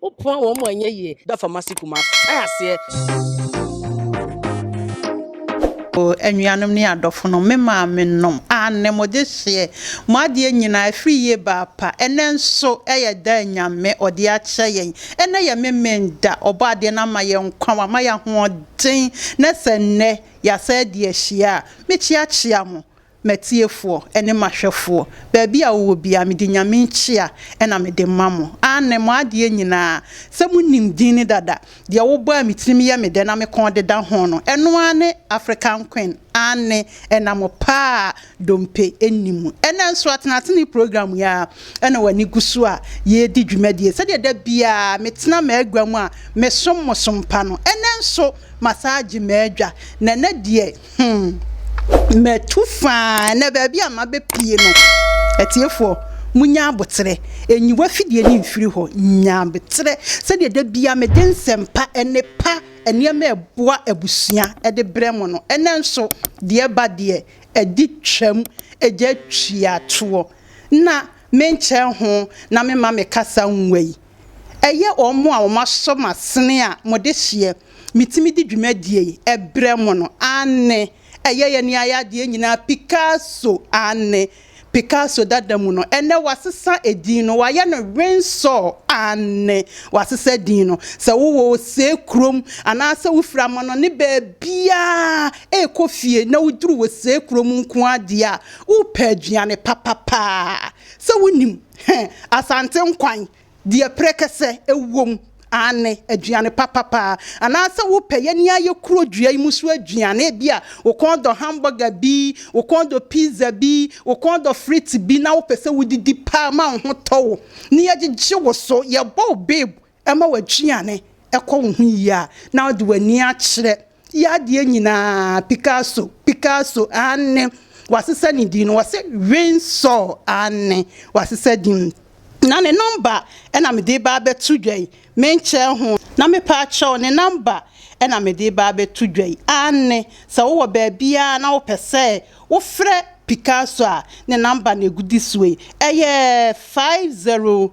Wo poa wɔn mu a ɛnyɛ yie. Da fam ase Kumasi ae aseɛ. Oh anuanom ne adɔfonom, me maamenom, aane mo dehyeɛ, mo adeɛ nyinaa ɛfiri yie ba apa, ɛnɛ nso ɛyɛ da a Nyame ɔde akyɛ yɛn, ɛnɛ yɛ Memen'da, Ɔbɔadeɛ no ama yɛn nkwa, wama yɛn ahoɔden, na sɛ nnɛ yɛasan adi ahyia a, me kyeakyea mo, M'atiefoɔ ne m'ahwɛfoɔ, baabi a wowɔ biara, mede Nyame nkyea na mede ma mo. Aane, mo adeɛ nyina ara, sɛ monim din no dada, deɛ wobɔ a me tirim yɛ me dɛ na me kɔn deda ho no, ɛno ara ne African Queen, aane, ɛna mo pa a dompe nni mu. Ɛnnɛ nso Atenatene program yi ara na w'ani gu so a yɛredi dwumadie, sɛdeɛ da biara metena m'agua mu a mesom mo som pa no, ɛnnɛ nso masan agye m'adwa, na ɛnnɛ deɛ, Hmm. Matu faa na baabi a mabɛpie no. Atiefoɔ, munya aboterɛ. Ɛnyi wafidie no mfiri hɔ. Nya aboterɛ. Sɛdeɛ da bia mede nsɛmpa ɛne pa nneɛma ɛboa abusua ɛde berɛ mo no, ɛnɛ nso deɛ ɛba deɛ ɛde twam ɛgya twiatoɔ. Na menkyɛ ho na mema me kasa nwa yi. Ɛyɛ wɔn a wɔasɔ m'asene a mo dehyeɛ metumi di dwumadie yi brɛ mo no, aane, ɛyɛ yɛn ayadeɛ nyinaa, Picasso, aane, Picasso dada mu no, ɛnnɛ wɔasesa edin no, wɔayɛ no Windsor, aane, wɔasesa edin no, sɛ wo wɔ Osee kurom anaasɛ wo firi amanɔne baabiara rekɔ fie na wo duru Osee kurom nko ara deɛ a, wo repɛ aduane papa paa, sɛ wo nim. He, Asante nkwan deɛ prɛkɛsɛ wom, aane, aduane papa paa. Anaasɛ wopɛ yɛn yi ara yɛ kuro dua yi mu so aduane, ebi a wo kɔn dɔ hamburger bi, wo kɔn dɔ pizza bi, wo kɔn dɔ frite bi na wopɛ sɛ wodidi paa ma wo ho tɔ wo, na yɛgyegye wo so, yɛbɔ wo babe ɛma w'aduane kɔ wo ho yie a, na wode w'ani akyerɛ yɛ adeɛ nyinaa, Picasso, Picasso, aane, wasesa ne din no, wɔse Winsor, aane, wasesa din, na ne nɔmba na mede reba abɛto dwa yi, menkyɛɛ ho, na mepaakyɛw, ne nɔmba na mede reba abɛto dwa yi, aane, sɛ wowɔ baabiara na wopɛ sɛ wofrɛ Picasso a, ne nɔmba na ɛgudi soɔ yi, ɛyɛ five zero.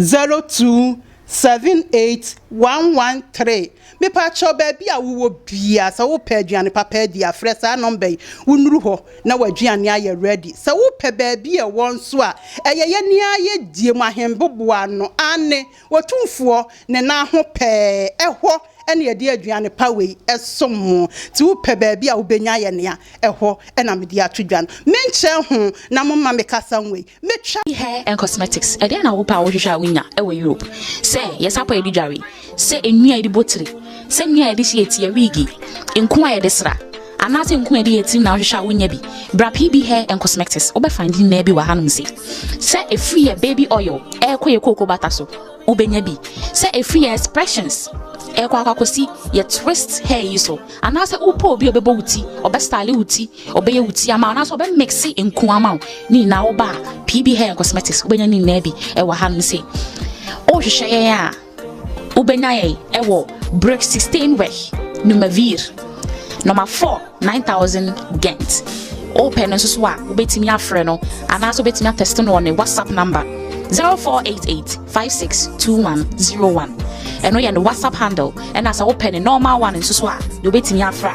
Zero two seven eight one one three mepakyɛw baabi a wowɔ bia sɛ wopɛ aduane papa adi a frɛ saa nɔmba yi wonuru hɔ na w'aduane ayɛ ready sɛ wopɛ baabi a ɛwɔ nso a ɛyɛ yɛne ara yɛdie mu ahemboboa ano aane Otumfoɔ ne nan ho pɛɛ ɛhɔ na yɛde aduane pa wei som mo nti wopɛ baabi a wobɛnya ayɛ nea ɛhɔ na mede ato dwa no menkyɛ ho na momma me kasa nwei. Me twa. Body Hair and Cosmetics Ɛdeɛn na wopɛ a wohwehwɛ a wonya wɔ Europe? Sɛ yɛ sapɔ a yɛde dware, sɛ nnua a yɛde bɔ tiri, sɛ nnua a yɛde hye yɛ ti, yɛ wiigi, nku a yɛde sra, anaasɛ nku a yɛde yɛ tirim na wohwehwɛ a wonya bi, bra PB Hair and Cosmetics. Wobɛ find nnua bi wɔ hanom sei. Sɛ ɛfiri yɛ baby oil ɛrekɔ yɛ kooko bata so, wobɛnya bi. Sɛ ɛfiri yɛ expressions ɛrekɔ akɔ akɔsi yɛ twist hair yi so, anaasɛ wopɛ obi a ɔbɛbɔ wo ti, ɔbɛ style wo ti, Ɔbɛyɛ wo ti ama wo anaasɛ ɔbɛ mixe nku ama wo ne nyinaa wo ba PB Hair Cosmetics wobɛnya ne nyinaa bi ɛwɔ ha nom se wohwehwɛ yɛn a wobɛnya yɛn ɛwɔ Brick 16 Wech Numavir number 4 9000 Gent wopɛ no nso so a wobɛtumi afrɛ no anaasɛ wobɛtumi atɛste no wɔ ne WhatsApp number 0488 562101 ɛno yɛ ne WhatsApp handle ɛna sɛ wopɛ ne normal one nso so a deɛ wobɛtumi afra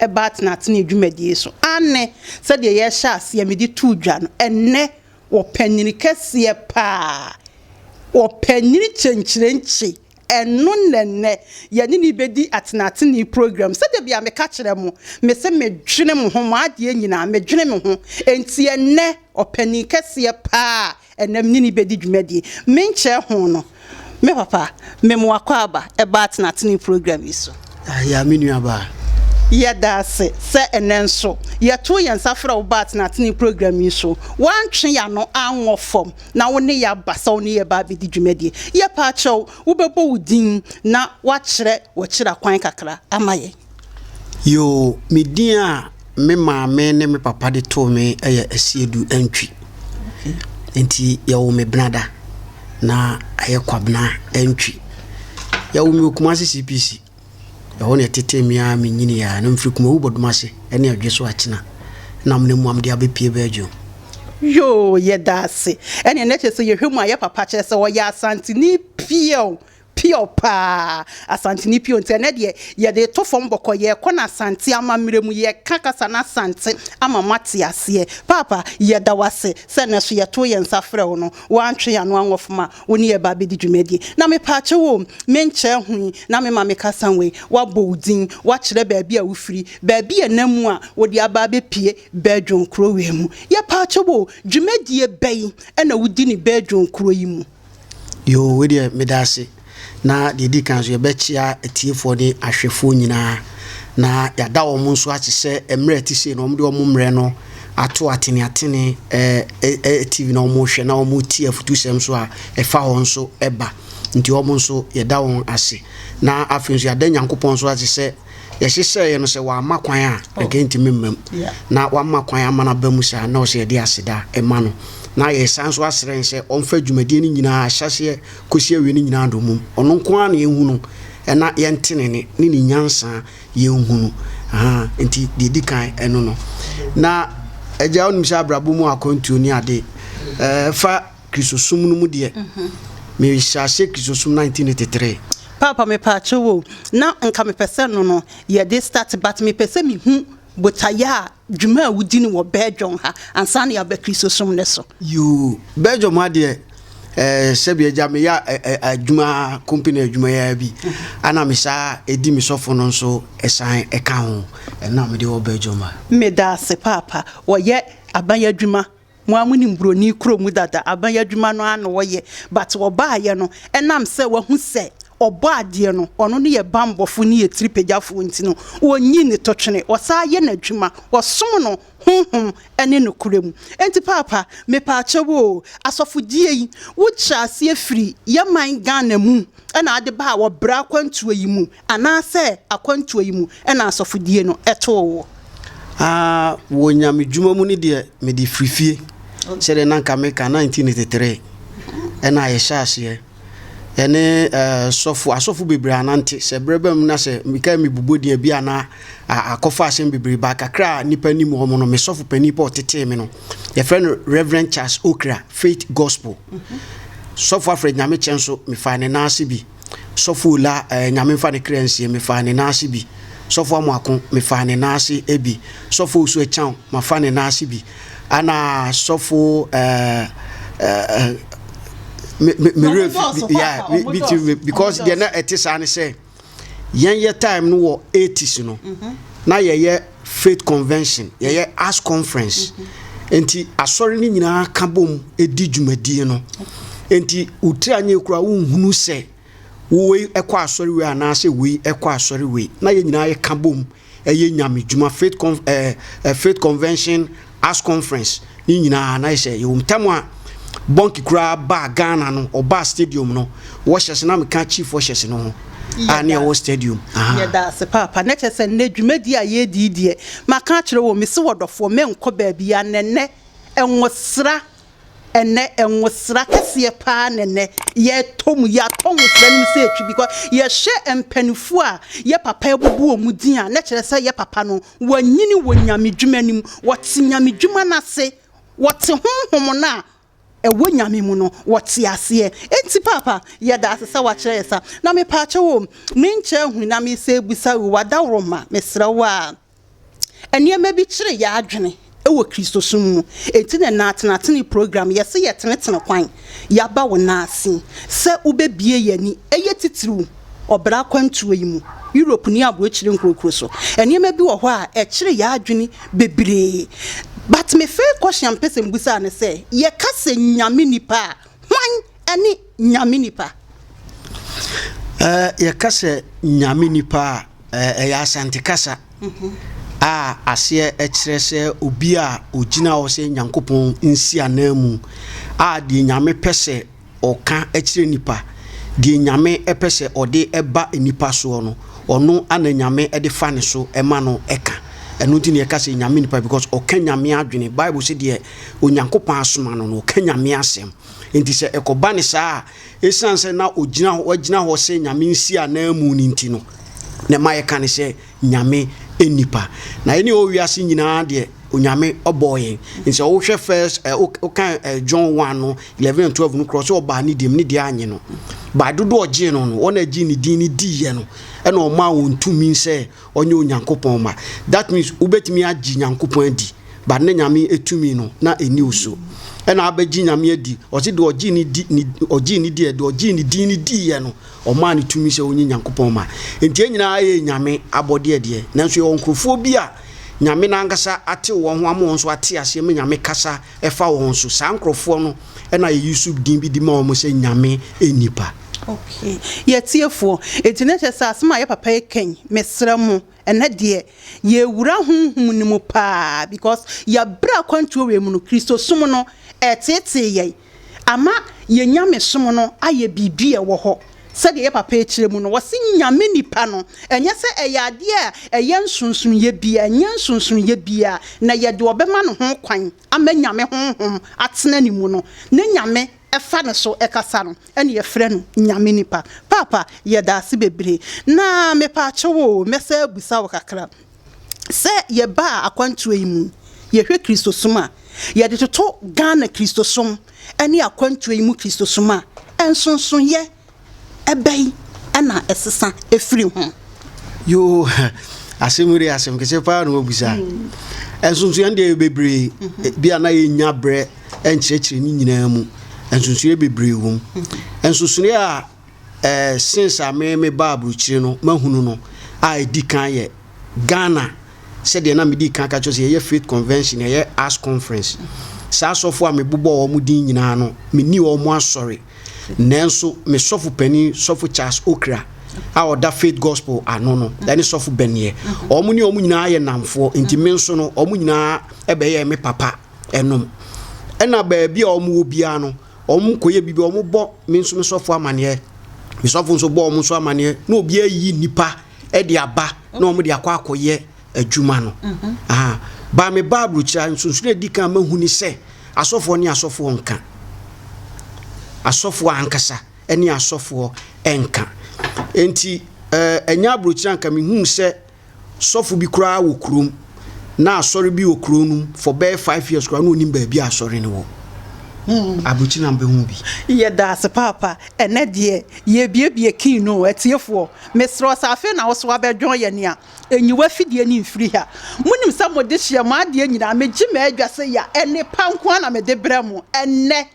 ɛba atenatenee dwumadie so. Aane, sɛdeɛ yɛhyɛɛ aseɛ mede too dwa no, ɛnnɛ wɔpɛ nyini kɛseɛ pa ara. Wɔpɛ nyini kyenkyerenkye. Ɛno na ɛnnɛ yɛne no rebɛdi atenatenee program. Sɛdeɛ bia meka kyerɛ mo, mese medwene mo ho, mo adeɛ nyinaa, medwene me ho. Enti ɛnnɛ ɔpanin kɛseɛ pa ara Ɛnnɛ me ne no bɛdi dwumadie. Menkyerɛ ho no, me papa, me mo akwaaba, ɛba atenatene program yi so. Ayaa me nuabaa. Yɛda ase sɛ ɛnnɛ nso yɛto yɛn nsa frɛ wo ba atenatene program yi so. Woantwe yɛn ano anwɔ fam na wo ne yɛn aba sɛ wo ne yɛn reba abɛdi dwumadie. Yɛpɛ akyɛ wo, wobɛbɔ wo din na woakyerɛ w'akyiri akwan kakra ama yɛn. Yoo, me din a me maame ne me papa de too me yɛ Asiedu Antwi. Enti wɔwoo me Benada, na ɛyɛ Kwabena Antwi. Wɔwoo me wɔ Kumasi CPC. Ɛhɔ na wɔtetee me ara menyiniiɛ ara. Na mefiri Kumawu Bodomase ne Odwe so Akyena. Na me ne mmoa mede abɛpue Belgium. Yoo, yɛda ase. Ɛnneɛ na kyerɛ sɛ yɛhwɛ mu a yɛ papa kyerɛ sɛ ɔyɛ Asanteni piaw. Pure paa! Asanteni pure nti ɛnɛ deɛ yɛde to fam bɔkɔ, yɛkɔ no Asante amammerɛ mu, yɛka kasa no Asante ama mo ate aseɛ. Paapa, yɛda wo ase sɛ ɛnɛ nso yɛtoo yɛn nsa frɛɛ wo no, woantwe yɛn ano anwɔf ma wo ne yɛn ba abɛdi dwumadie. Na mepaa kyɛw o, me nkyɛn ho yi na me ma me kasa wei, woabɔ wo din, woakyerɛ baabi a wofiri, baabi a ɛna mu a wode aba abɛpue Badwonkuro wei mu. Yɛpaa kyɛw o, dwumadie bɛn na wodi ne Badwonkuro yi mu? Yoo wei deɛ meda ase na deɛ ɛdi kan so yɛbɛkyea atiefoɔ ne ahwɛfoɔ nyinaa na yɛada wɔn nso ase sɛ mmerɛ ɛte sei na wɔde wɔn mmerɛ no ato atene atene ɛɛ eh, ɛɛ eh, eh, tv na wɔhwɛ na wɔti afutusɛm nso a ɛfa wɔn nso ɛba nti wɔn nso yɛda wɔn ase na afei nso yɛada nyankopɔn nso ase sɛ yɛhyehyɛeɛ no sɛ wamma kwan a oh. nka ntumi mma mu na wamma kwan ama no aba mu saa na ɔsɛ yɛde aseda ma no na yɛsan nso asrɛ sɛ ɔmfa dwumadie no nyinaa ahyɛseɛ kɔsi awie no nyinaa dɔ mum ɔno nko ara na yɛhu no ɛna yɛnte ne ne ne ne nyansa yɛnhu no nti deɛ di kan ɛno no na agya wonim sɛ abrabɔ mu akwantuo ne ade fa Kristosom no mu deɛ, mehyɛaseɛ Kristosom 1983. Paapa mepaakyɛw o na nka mepɛsɛ no no yɛde start but mepɛsɛ mehu botaeɛ a dwuma a wodi no wɔ Belgium ha ansa na yɛaba Kristosom no so. Yoo, Belgium ha deɛ eh, sɛbi agya meyɛ a, eh, eh, adwuma, company adwuma yi ara bi, ana mesaa ɛdi me sɔfo no nso ɛsan ɛka ho, ɛno na mede wɔ Belgium ha. Medaase paapa, wɔyɛ aban adwuma. Mo a monim buroni kuro mu dada aban adwuma no ara na wɔyɛ but wɔbaeɛ no ɛnam sɛ wahu sɛ ɔbɔ adeɛ no ɔno ne yɛ banbɔfoɔ ne yɛ tiri pagyafoɔ nti no ɔnyi ne totwene ɔsan yɛ n'adwuma ɔsom no honhom ne nokorɛ mu enti paapa mepaakyɛw oo asɔfodie yi wo kyerɛ aseɛ firi yɛ man Ghana mu na ade baa wɔ berɛ akwantuo yi mu Anaasɛ akwantuo yi mu na asɔfodie no too wo? Aa, wɔ nyamedwuma mu no deɛ mede firi fie, sɛdeɛ na anka meka 1983 na yɛhyɛ aseɛ ɛne sɔfo, asɔfo bebree anante, sɛ berɛ ba mu na sɛ mekae mebobɔ din a bi a na akɔfa asɛm bebree ba kakra a nnipa nim wɔn no, me sɔfo panin pa ɔtetee me no, yɛfrɛ no Reverend Charles Okra, Faith Gospel. Sɔfo Alfred Nyamekyɛ nso, mefaa ne nan ase bi. Sɔfo Ola eh, Nyame mfa ne kra nsie Mefaa ne nan ase bi Sɔfo Amoako, mefaa ne nan ase eh, bi Sɔfo Osu Akyang, mafa ne nan ase bi Ana sɔfo eh, eh, eh, me, me, me werɛ fi, yeah, me, me tiri me Because deɛ na ɛte saa ne sɛ Yɛn yɛ time no wɔ 80s no, na yɛyɛ faith convention yɛyɛ as conference nti asɔre no nyinaa ka bom di dwumadie no nti wotiri anyɛ kura wonhunu sɛ wei ɛkɔ asɔre wei anaasɛ wei ɛkɔ asɔre wei na yɛn nyinaa yɛka bom ɛyɛ nyame dwuma faith con ɛɛ faith convention. House Conference ne nyinaa na yɛ sɛ yɛwɔ mu. Tam a Bɔnke koraa baa Ghana no, ɔbaa stadium no, wɔhyɛse na meka chief wɔhyɛse no ho a ne ɛwɔ stadium. Yɛda ase paapa. Na kyerɛ sɛ nnɛ dwumadi a yɛredi yi deɛ, maka akyerɛ wɔn, mese wɔdɔfoɔ menkɔ baabiara na nnɛ nwosra, ɛnnɛ nwosra kɛseɛ paa na nnɛ yɛtɔ mu, yɛatɔ nwosra no mu sɛ ɛtwi because yɛhwɛ mpaninfoɔ a yɛ papa abubu wɔn din a, na kyerɛ sɛ yɛ papa no wɔanyini wɔ nyamedwuma no mu, wɔte nyamedwuma no ase, wɔte honhom no a ɛwɔ Nyame mu no, wɔte aseɛ. Enti Paapa, yɛda ase sɛ woakyerɛ yɛ saa. Na mepaakyɛw o, menkyɛ ahu na mesɛ bisa o, w'adaworoma, mesrɛ wo a, nneɛma bi kyere yɛ adwene. wɔ Kristosom mu. Enti na na atenatene program, yɛse yɛtenetene kwan, yɛaba wo nan ase sɛ wobɛbie yɛn ani, ɛyɛ titiriw ɔbra akwantuo yi mu, Europe ne aburokyire nkurokuro so. Nneɛma bi wɔ hɔ a ɛkyere yɛn adwene bebree. But me first question a mpɛ sɛ mbusa ne sɛ, yɛka sɛ Nyame nipa a, Hwan ne Nyame nipa? Yɛka sɛ Nyame nipa a, ɛyɛ Asante kasa mhm. a aseɛ kyerɛ sɛ obi a ɔgyina hɔ sɛ Nyankopɔn nsi anan mu a deɛ Nyame pɛ sɛ ɔka kyerɛ nipa deɛ Nyame pɛ sɛ ɔde ɛba nipa soɔ no ɔno ana Nyame de fa ne so ɛma no ɛka ɛno nti na yɛka sɛ Nyame nipa because ɔka Nyame adwene Bible sɛ deɛ Onyankopɔn asoma no na ɔka nyame asɛm nti sɛ ɛkɔba ne saa a ɛsiane sɛ na ɔgyina hɔ wagyina hɔ sɛ nyame nsi ananmu no nti no na ɛma yɛka ne sɛ nyame nnipa na ɛne ɔwɔ wiase nyinaa deɛ onyame ɔbɔɔ yɛn nsɛ wohwɛ first eh, wokan eh, john 1 no 11 and 12 no korɔ sɛ ɔbaa ne deɛm ne deɛ anye no baa dodo ɔgyee no no wɔn agye ne din no diiɛ no ɛna ɔmaa wɔn tumi sɛ ɔnyɛ Onyankopɔn ma. That means wobɛtumi agye Nyankopɔn adi but ne Nyame etumi no na ɛni wo so. Ɛna abɛgye Nyame adi, ɔse deɛ ɔgye ne di, ne, ɔgye ne diɛ, deɛ ɔgye ne din ne diiɛ no, ɔmaa ne tumi sɛ ɔnyɛ Nyankopɔn ma. Nti yɛn nyinaa yɛ Nyame abɔdeɛ deɛ, nanso yɛwɔ nkurɔfoɔ bi a Nyame no ankasa atew wɔn ho ama wɔn nso ate aseɛ ma Nyame kasa ɛfa wɔn so. Saa nkurɔfoɔ no ɛna yɛyi so din bi de ma wɔn sɛ Nyame nnipa. Okay yɛ atiefoɔ enti na kyerɛ sɛ asɛm a yɛ papa yi ka yi mesrɛ mo ɛnɛ deɛ yɛwura honhom no mu paa because yɛabrɛ akwantuo wei mu no kristosom no ɛtetee yɛn ama yɛ nyamesom no ayɛ biribi a ɛwɔ hɔ sɛdeɛ yɛ papa yi kyerɛ mu no wɔse nyame nipa no ɛnyɛ sɛ ɛyɛ adeɛ a ɛyɛ nsonsonoyɛ bia ɛnyɛ nsonsonoyɛ bia na yɛde ɔbɛma no ho kwan ama nyame honhom atena ne mu no ne nyame ɛfa ne so ɛkasa no ɛne yɛfrɛ no Nyame nipa. Paapa yɛdaase bebree na mepaakyɛw oo mɛsan abusa wo kakra sɛ yɛbaa akwantuo yi mu yɛhwɛ Kristosom a yɛde toto Ghana Kristosom ɛne akwantuo yi mu Kristosom a nsonsonoeɛ bɛn na ɛsesa firi ho? Yoo, asɛm wei asɛm kɛseɛ paa na wɔbisa. Nsonsonoeɛ deɛ yɛ bebree, mhm. bi a na yɛnya berɛ nkyerɛkyerɛ ne nyinaa mu. Nsonsonoeɛ bebree wɔ mu. Mhm. Nsonsonoeɛ a eh, since a me me ba aburokyire no mahunu no a ɛdi kan yɛ Ghana sɛdeɛ na medi kan ka kyerɛ sɛ yɛyɛ faith convention yɛyɛ as conference saa asɔfo a mebobɔ wɔn din nyinaa no menni wɔn asɔre Nanso me sɔfo panin, Sɔfo Charles Okra, a ɔda Faith Gospel ano no, ɛne Sɔfo Bɛneɛ, wɔn ne wɔn nyinaa yɛ nnamfoɔ, nti me nso no, wɔn nyinaa bɛyɛɛ me papa nom. Ɛna baabi a wɔn wɔ biara no, wɔn kɔyɛ biribi, wɔn bɔ me nso me sɔfo amaneɛ, me sɔfo nso bɔ wɔn nso amaneɛ, na obiara yi nnipa de aba na wɔn de akɔ akɔyɛ adwuma no aha ba me ba aburukyira nsonsono edi kan mahu ni sɛ asɔfoɔ ne asɔfoɔ nka asɔfoɔ ankasa ne asɔfoɔ nka nti ɛnyɛ aburukyira nka mehu sɛ sɔfo bi koraa wɔ kurom na asɔre bi wɔ kurom no for bɛyɛ five years koraa na onim baabi a asɔre no wɔ hmm. aburukyira mbɛhu bi. yɛda ase paapa ɛnɛ deɛ yɛbiebie kii no atiefoɔ mesrɛ sɛ afei na wo so abɛdwɔn yɛ nea Nyi w'afidie no mfiri ha. Monim sɛ mo dehyeɛ, mo adeɛ nyinaa, megye m'Adwa sɛ ya, nnepa nko ara na mede brɛ mo. Ɛnnɛ,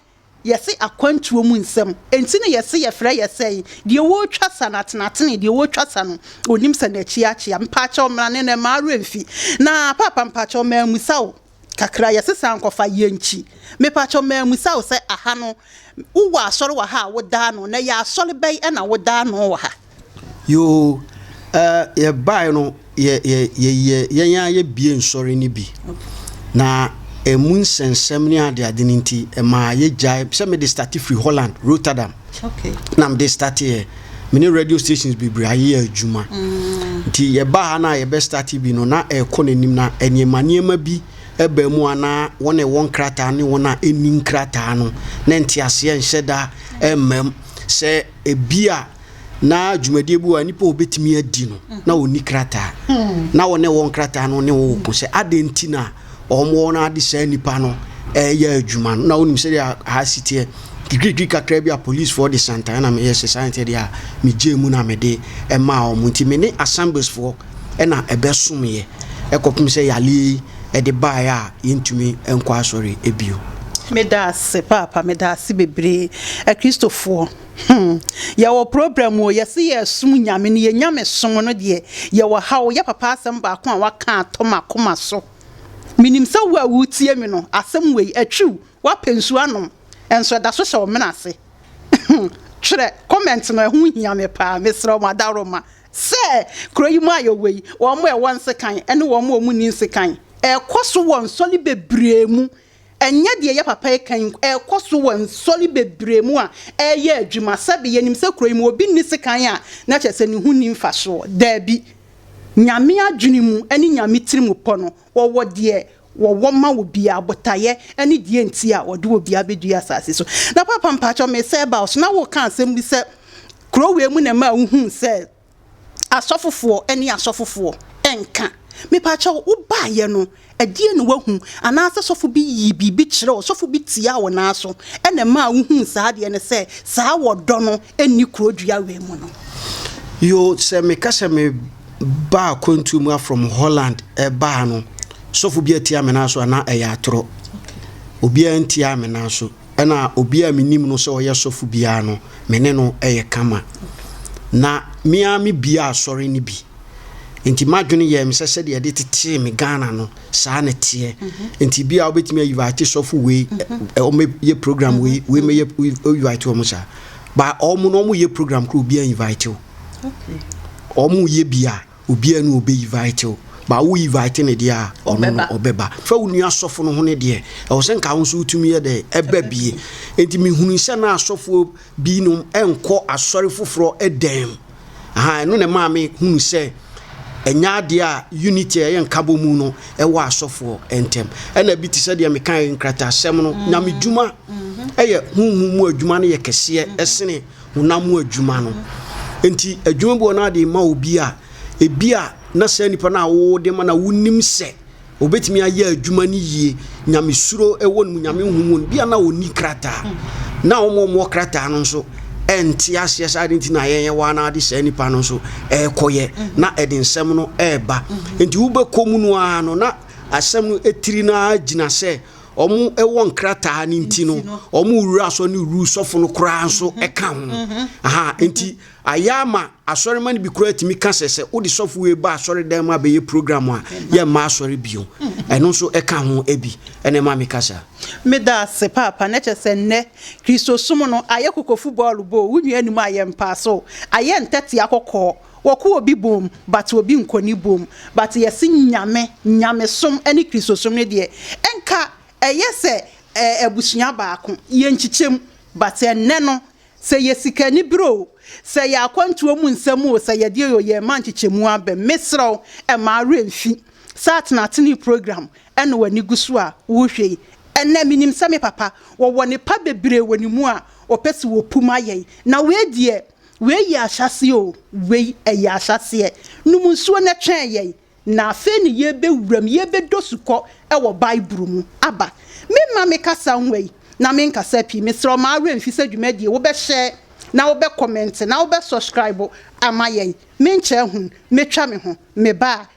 yɛse akwantuo mu nsɛm. Enti na yɛse yɛfrɛ yɛ sɛn? Deɛ ɔretwa sa no atenatene, deɛ ɔretwa sa no, ɔnim sɛ n'akyi akyea. Mpaakyɛw mmara no na mmaa werɛ mfi. Na Paapa mpaakyɛw, mammisa wo. Kakra yɛ sesa nkɔ fa yɛ nkyi. Mepakyɛw mammisa wo sɛ aha no wowɔ asɔre wɔ ha a woda ano na yɛ asɔre bɛn ɛna woda ano wɔ ha? Yoo eh yɛ bae no yɛ yɛ yɛ yɛ yɛn ara yɛ bie nsɔre no bi na ɛmu nsɛnsɛm ne adeade no nti ɛmaa yɛ gyae sɛ mede starte firi Holland Rotterdam. Okay. Na mede starte yɛ me ne radio stations bebree ayɛ adwuma mm. nti yɛbaa ha no a yɛbɛ starte bi no na ɛrekɔ n'anim na nneɛma nneɛma bi ɛbaa mu a na wɔn a ɛwɔ nkrataa ne wɔn a ɛnni nkrataa no na nteaseɛ nhyɛ da mmam sɛ ebi a na dwumadie bi wɔ a nipa obetumi adi no na ɔni krataa mm. na wɔn a ɛwɔ nkrataa no ne wɔn ko sɛ adeɛ nti na. Mm. wɔn wɔn ara de saa nipa no ɛyɛ adwuma no na wonim sɛdeɛ aha si teɛ kikirikiri kakra bi a policefoɔ de santae na meyɛ sɛ saa nteɛ deɛ a megyee mu na mede ɛmaa wɔn nti me ne assembliesfoɔ ɛna ɛbɛsomeɛ ɛkɔpem sɛ yale yi ɛde baeɛ a yɛntumi nkɔ asɔre ebio. Meda ase paapa, meda ase bebree. Akristofoɔ. hmm yɛwɔ problem o yɛse yɛresom nyame no yɛ nyame som no deɛ yɛwɔ ha o yɛ papa asɛm baako a waka atɔ m'akoma so menim sɛ wo a wotie me no asɛm wei atwiw wapɛ nsuo anom ɛnso ɛda so hyɛ wo mena ase hmm twerɛ comment no ɛho hia me paa mesrɛ mo adaworoma sɛ kuro yi mu a yɛwɔ yi wɔn a ɛwɔ nsekan ne wɔn a wɔn ni nsekan ɛkɔ so wɔ nsɔre bebree mu Ɛnyɛ deɛ ɛyɛ papa yi kan nko, ɛrekɔ so wɔ nsɔre bebree mu a ɛreyɛ adwuma. Sɛbe yɛnim sɛ kuro yi mu obi nni sekan a, na kyerɛ sɛ ne ho nni mfasoɔ? Daabi. Nyame adwene mu ne Nyame tirimupɔ no, wɔwɔ deɛ wɔwɔ ma obiara, botaeɛ ne deɛ nti a wɔde obiara bɛdua asase so. Na Papa mpakyɛw, mesɛ ba wo so, na woreka asɛm bi sɛ kuro wei mu na ɛmaa wohuu sɛ Asɔfofoɔ ne asɔfofoɔ nka. Mepaakyɛ wo, wo baayɛ no, ɛdeɛ na wahu? Anaasɛ sɔfo bi yii biribi kyerɛ wo, sɔfo bi tiaa wo nan so, ɛna ɛmaa wo huu saa adeɛ no sɛ saa wɔ dɔ no nni kuro dua wei mu no? Yoo, sɛ me ka sɛ me ba akwantuo mu a from Holland ɛba ha no, sɔfo bi atia me nan so anaa ɛyɛ atorɔ? Obiara ntiaa me nan so. Ɛnna obi a minim no sɛ ɔyɛ sɔfo biara no, me ne no yɛ kama. Ná me ara mebue asɔre no bi. Enti m'adwene yɛɛ me sɛ sɛdeɛ yɛde tetee me Ghana no, saa na ɛteɛ. Enti ebia wobɛtumi ayivate sɔfo wei, ɛ, wɔmmɛyɛ program wei, wei mmɛyɛ, woyivate wɔn saa. Ba wɔn no, wɔyɛ program koraa obiara invite wo. Wɔyɛ bi a. Obiara ni a ɔbɛ invite wo but wo invite no deɛ a ɔno no ɔbɛba fa wo nua sɔfo no ho no deɛ ɛwɔ sɛ nka wo nso wotumi yɛ dɛ ɛba bie nti mehunu sɛ na asɔfoɔ bi nom ɛnkɔ asɔre foforɔ ɛdɛm aha ɛno na ɛmaa me hunu sɛ ɛnyɛ adeɛ a unity ɛyɛ nkabɔ mu no ɛwɔ asɔfoɔ ɛntɛm ɛna bi te sɛ deɛ meka nkratasɛm no nyame dwuma ɛyɛ honhom mu adwuma no yɛ kɛseɛ ɛsene honam mu adwuma no. Enti adwuma bi wɔ na de ma obi a, ebi a na saa nipa no a wode ma na wonim sɛ obetumi ayɛ adwuma no yie, nyamesuro wɔ no mu, nyame nhu mu, bi a na onni krataa. Na wɔn a wɔwɔ krataa no nso ɛnte aseɛ saa de nti na yɛyɛ wɔn na de saa nipa no nso ɛrekɔyɛ na ɛde nsɛm no ɛreba. Enti wobɛkɔ mu no ara no na asɛm no etiri no ara gyina sɛ wɔwɔ nkrataa no nti no wɔn wura asɔ ne wuru sɔfo no koraa nso mhm. ɛka ho mhm. aha mhm. nti ayɛ ama asɔrema no bi koraa tumi ka sɛ sɛ wode sɔfo wei ba asɔre dan mu abɛyɛ program a yɛ mma asɔre bio ɛno nso ɛka ho bi ɛna ɛma meka saa meda ase paapa na kyɛ sɛ nnɛ kristosom no ayɛ kokofo bɔɔlo bɔ wo nua anim ayɛ mpaaso ayɛ ntɛtea kɔkɔɔ wɔkɔ obi bom but obi nkɔ ne bom but yɛse Nyame, Nyamesom ne Kristosom no deɛ nka ɛyɛ sɛ abusua baako, yɛnkyikyɛm but ɛnnɛ no sɛ yɛ sikanibere o, sɛ yɛ akwantuo mu nsɛm o, sɛ yɛdeɛ o yɛmma nkyikyɛmu abam. Mesrɛ wo mma awerɛ mfi saa atenatene program na w'ani gu so a wohwɛ yi. Ɛnnɛ menim sɛ me papa wɔwɔ nepa bebree wɔ ne mu a ɔpɛ sɛ wɔpu ma yɛn na wei deɛ, Wei yɛ ahyɛaseɛ o, wei ɛyɛ ahyɛaseɛ. Nom nsuo na twɛn yɛn, na afei na yɛrebɛwura mu, yɛrebɛdɔ sukɔ wɔ Bible mu. Aba. Me mma me kasa nwa yi, na me nkasa pii. Mesrɛ wo, mma wo werɛ mfi sɛ dwumadie wo bɛ share, na wo bɛ comment, na wo bɛ subscribe ama yɛn. Me nkyɛɛ hunu, mɛtwa me ho. Me baa.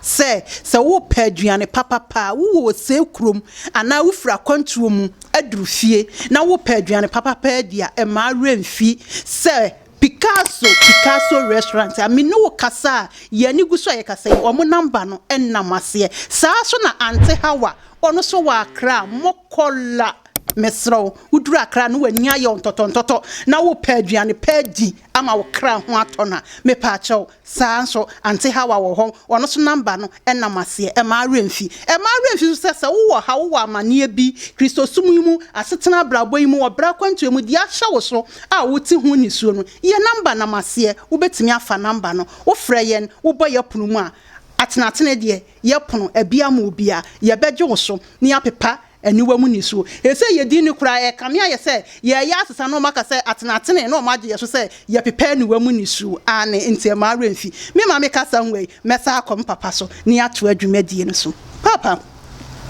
sɛ sɛ worepɛ aduane papapa a, wowɔ ɔsɛe kurom anaa wofiri akwantuo mu aduru fie na worepɛ aduane papapa adi a, mma wo werɛ mfi sɛ Picasso, Picasso Restaurant a me ne wo kasa a yɛn ani gu so a yɛkasa yi, wɔn namba no nna mo aseɛ. Saa ara nso na Aunty Hawa, ɔno nso wɔ Accra, Mokola, mesrɛ wo, woduru Accra na w'ani ayɛ wo ntɔtɔntɔtɔ na worepɛ aduane pa adi ama wo kra ho atɔ no a, mepaakyɛw, Saa ara nso, Auntie Hawa wɔ hɔ, ɔno nso namba no nam aseɛ. Mma wo werɛ mfi. Mma wo werɛ mfi nso sɛ, sɛ wowɔ ɔhaw, wowɔ amanneɛ bi, Kristosom yi mu, asetena abrabɔ yi mu, wɔ bra akwantuo mu, deɛ ahyɛ wo so a wote ho nisuo no, yɛn namba nam aseɛ. Wobɛtumi afa namba no. Wofrɛ yɛn, wobɔ yɛn pono mu a, atenatene deɛ, yɛpono abia ma obiara. Yɛbɛgye wo so na yɛapepa Aniwa mu nisuo. Seesei yɛdi nni koraa, ɛrekame ayɛ sɛ yɛreyɛ asesa na wɔaka sɛ atenatenee na wɔagye yɛn so sɛ yɛpepɛ aniwa mu nisuo. Aane, enti ɛmma awerɛ mfi me ma mekasa nwɔ yi, mɛsan akɔ me papa so na yɛatoa dwumadie no so. Papa,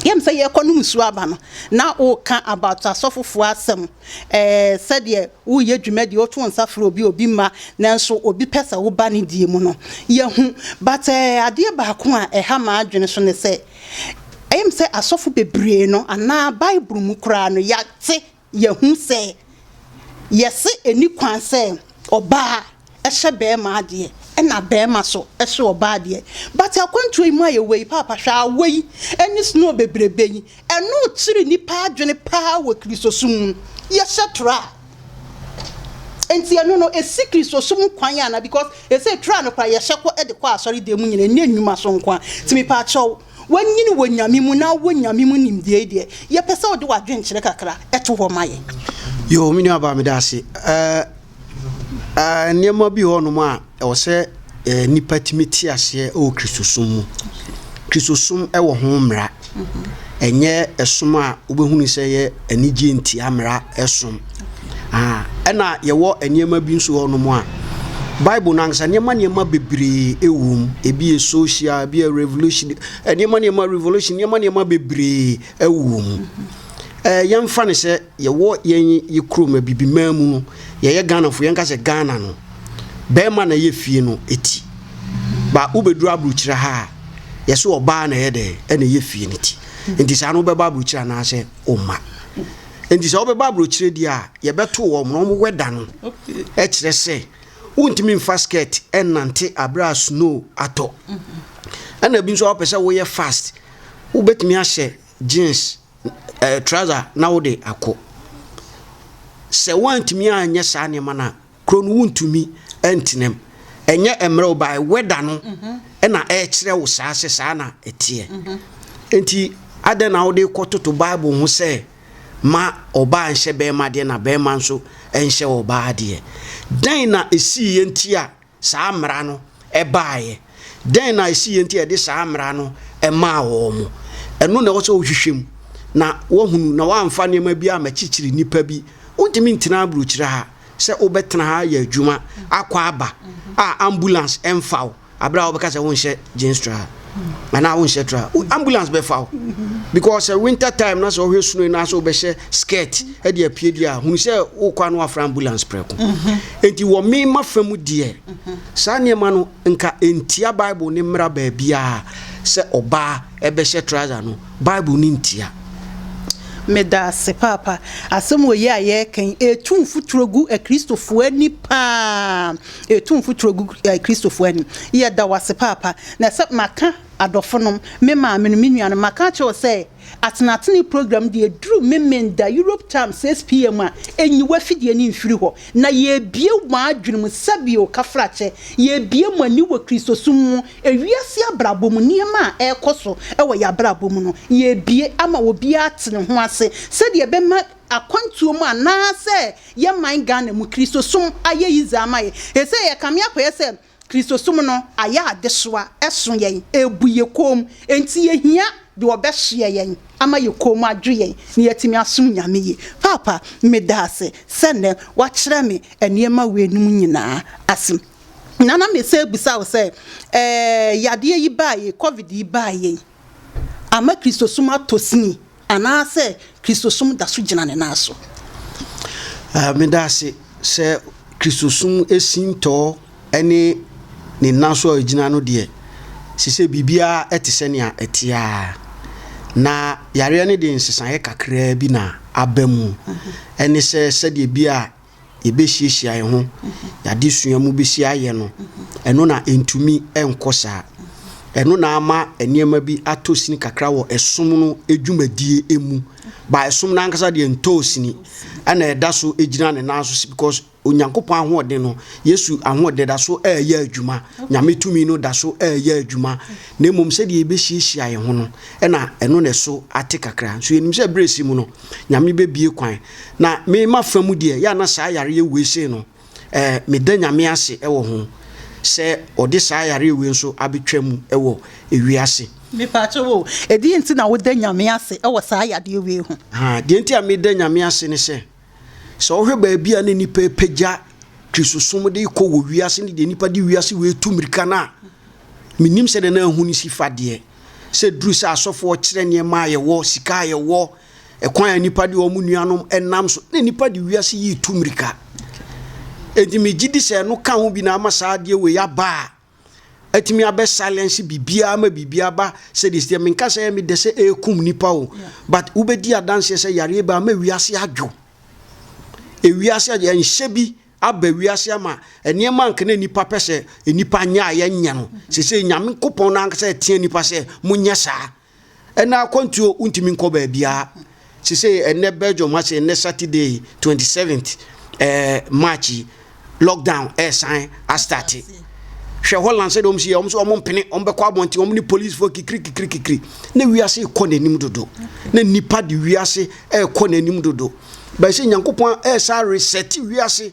yɛnim sɛ yɛrekɔ nom nsuo aba no, na woreka about asɔfofoɔ asɛm, ɛɛ, sɛdeɛ woreyɛ dwumadie, woto wo nsa frɛ obi a obi mma, nanso obi pɛ sɛ woba ne die mu no, yɛahu, but ɛɛ, adeɛ baako a ɛha m'adwene so ne sɛ, Ɛyem sɛ asɔfo bebree no anaa Bible mu koraa no yɛate, yɛahu sɛ yɛse ɛnni kwan sɛ ɔbaa hyɛ bɛɛma adeɛ ɛna bɛɛma so hyɛ ɔbaa adeɛ. But akwantuo yi mu a yɛwɔ yi paapa hwɛ awɔ yi ɛne snow bebrebe yi ɛno kyere nnipa adwene paa wɔ Kristosom mu. Yɛhyɛ tora a. Nti ɛno no esi Kristosom kwan ana because ɛsɛ tra no kora yɛhyɛ kɔ de kɔ asɔre dan mu nyina ɛnyɛ nnwuma so nko a nti mepɛ akyɛw wanyini wɔ nyame mu na wɔ nyame mu nimdeɛ yi deɛ yɛpɛ sɛ wode wadwenkyerɛ kakra ɛto hɔ ma yɛ. Yoo me nua baa meda ase ɛɛ ɛɛ nneɛma bi hɔ nom a. Ɛwɔ sɛ nnipa tumi te aseɛ wɔ Kristosom mu. Kristosom wɔ ho mmara. Ɛnyɛ ɛsom a wobɛhunu sɛ ɛyɛ anigyeɛ ntia mmara som. Ɛna yɛwɔ nneɛma bi nso wɔ nom a Bible no ankasa nneɛma nneɛma bebree wɔ mu. Ebi yɛ social, ebi yɛ revolution, nneɛma nneɛma revolution, nneɛma nneɛma bebree wɔ mu. Yɛmfa no sɛ. Yɛwɔ yɛn yɛ kurom abibiman mu no yɛyɛ Ghanafoɔ yɛnka sɛ Ghana no bɛɛma na ɛyɛ fie no ti ba wobɛduru abrokyire ha a yɛse ɔbaa na ɛyɛ dɛn ɛna ɛyɛ fie no ti nti saa no wobɛba abrokyire anaasɛ womma nti sɛ wobɛba abrokyire deɛ a yɛbɛto wɔn na wɔn wɛda no ɛkyerɛ sɛ wontumi mfa skirt ɛnante aberɛ a snow atɔ ɛna bi nso a wopɛ sɛ woyɛ fast wobɛtumi ahyɛ jeans ɛɛ trouser na wode akɔ. Sɛ woantumi anyɛ saa nneɛma no a, kuro no wontumi ntena mu. Ɛnyɛ mmerɛ wo bae, weather no mhm. na ɛkyerɛ wo saa sɛ saa na ɛteɛ. Mhm. Nti adɛn na wode kɔ toto Bible ho sɛ ma ɔbaa nhyɛ bɛrima adeɛ na bɛrima nso nhyɛ ɔbaa adeɛ? Dɛn na ɛsii yɛ nti a saa mmara no baeɛ? Dɛn na ɛsiiɛ nti a ɛde saa mmara no maa wɔn? Ɛno na ɛwɔ sɛ wohwehwɛ mu na woahunu na woamfa nneɛma bi amakyikyiri nnipa bi. Wontumi ntena aburokyire ha sɛ wobɛtena ha ayɛ adwuma akɔ aba a ambulance mfa wo berɛ a wobɛka sɛ wonhyɛ gyenstra. anaa wonhyɛ tra ambulance bɛfa wo because sɛ winter time na sɛ wohwɛ suno na sɛ wobɛhyɛ skirt de apue deɛ a hunu sɛ wokɔ ano afra ambulance prɛko enti wɔ mema fa mu deɛ saa nneɛma no nka ntia bible ne mmara baabiaa sɛ ɔbaa ɛbɛhyɛ trouser no bible ne ntia meda ase paapa asɛm wɔ yi a yɛrekan ɛtu mfuturo gu akristofoɔ ani paa Etu mfuturo gu Kristofo anim. Yɛda wo ase paapa. Na sɛ maka adɔfonom, me maamenom, me nuanom, maka akyerɛ wo sɛ Atenatenee program deɛ ɛduru Memenda, Europe time, 6 PM a, nyi w'afidie no mfiri hɔ. Na yɛrebue mo adwene mu sɛbio kafrakyɛ. Yɛrebue mo ani wɔ Kristosom mu, ewiase abrabɔ mu, nneɛma a ɛrekɔ so wɔ yɛn abrabɔ mu no, yɛrebue ama obiara ate ne ho ase sɛdeɛ ɛbɛma akwantuo mu anaa sɛ yɛ man Ghana mu Kristosom ayɛ yidze ama yɛ. Sesei yɛkame akɔyɛ sɛ Kristosom no ayɛ adesoa, ɛso yɛn, ebu yɛ kɔn mu, enti yɛhia deɛ ɔbɛsoɛ yɛn ama yɛ kɔn mu adwo yɛn na yɛatumi asom Nyame yie. Paapa, medaase sɛ nnɛ woakyerɛ me nneɛma weinom nyinaa ase. Nana mesan abisa wo sɛ, ɛɛ yadeɛ yi baeɛ yi, covid yi baeɛ yi, ama Kristosom atɔ sini Anaasɛ Kristosom da so gyina ne nan so? Meda ase sɛ Kristosom sintɔɔ ne ne nan so a egyina no deɛ, ɛsɛ sɛ biribiara te sɛ nea ɛteɛ ara. Na yareɛ no de nsesaeɛ kakraa bi na aba mu. Ɛne sɛ, sɛdeɛ bi a yɛbɛhyiahyia yɛn ho, yɛn adesua mu bɛsi ayɛ no, ɛno na ɛntumi nkɔ saa. Ɛno na ama nneɛma bi atɔ sini kakra wɔ ɛsom no dwumadie mu. Ba ɛsom no ankasa deɛ ntɔɔ sini, ɛna ɛda so gyina ne nan so because Onyankopɔn ahoɔden no, Yesu ahoɔden da so ɛreyɛ adwuma, Nyame tumi no da so ɛreyɛ adwuma, na mmom sɛdeɛ yɛbɛhyiahyia yɛn ho no, ɛna ɛno na ɛso ate kakra. Nso yɛnim sɛ berɛ si mu no, Nyame bɛbie kwan. Na me mafa mu deɛ, yɛ a na saa yareɛ wei sei no, eh, meda Nyame ase wɔ ho sɛ ɔde saa yareɛ wei nso abɛtwa mu wɔ ewiase. Mepaakyɛ wo, ɛdeɛ nti na woda Nyame ase wɔ saa yadeɛ wei ho? Ha, deɛ nti a meda Nyame ase ne sɛ, sɛ wohwɛ baabi a na nnipa repagya Kristosom de rekɔ wɔ wiase ne deɛ nnipa de wiase wei retu mmirika no a, menim sɛdeɛ na ahu no si fa deɛ, sɛ duru sɛ asɔfoɔ kyerɛ nneɛma a yɛwɔ, sika a yɛwɔ, Ɛkwan a nnipa de wɔn nuanom nam so na nnipa de wiase yi tu mmirika. Enti megye di sɛ ɛno ka ho bi na ama saa adeɛ wei aba a atumi abɛ silence biribiara ma biribiara ba sɛ de sɛ menka sɛ ɛmi dɛ sɛ ɛrekum nipa o but wobɛdi adanseɛ sɛ yareɛ bi ama wiase adwo ewiase adwo ɛnhyɛ bi aba wiase ama nneɛma nka na nipa pɛ sɛ nipa nyɛ a yɛnyɛ no sɛ sɛ nyame nkopɔn no ankasa ɛteɛ nipa sɛ monyɛ saa Ɛna akwantuo wontumi nkɔ baabiara sesei ɛnɛ Belgium ase ɛnɛ Saturday 27th eh, March yi lockdown ɛresan astate hwɛ Holland sɛdeɛ wɔn si yɛ wɔn so wɔn mpene wɔn bɛkɔ abɔnten wɔn ne polisifoɔ kikiri kikiri kikiri na wiase rekɔ n'anim dodo na nipa de wiase ɛrekɔ n'anim dodo bɛsɛ nyankopɔn ɛresa resɛte wiase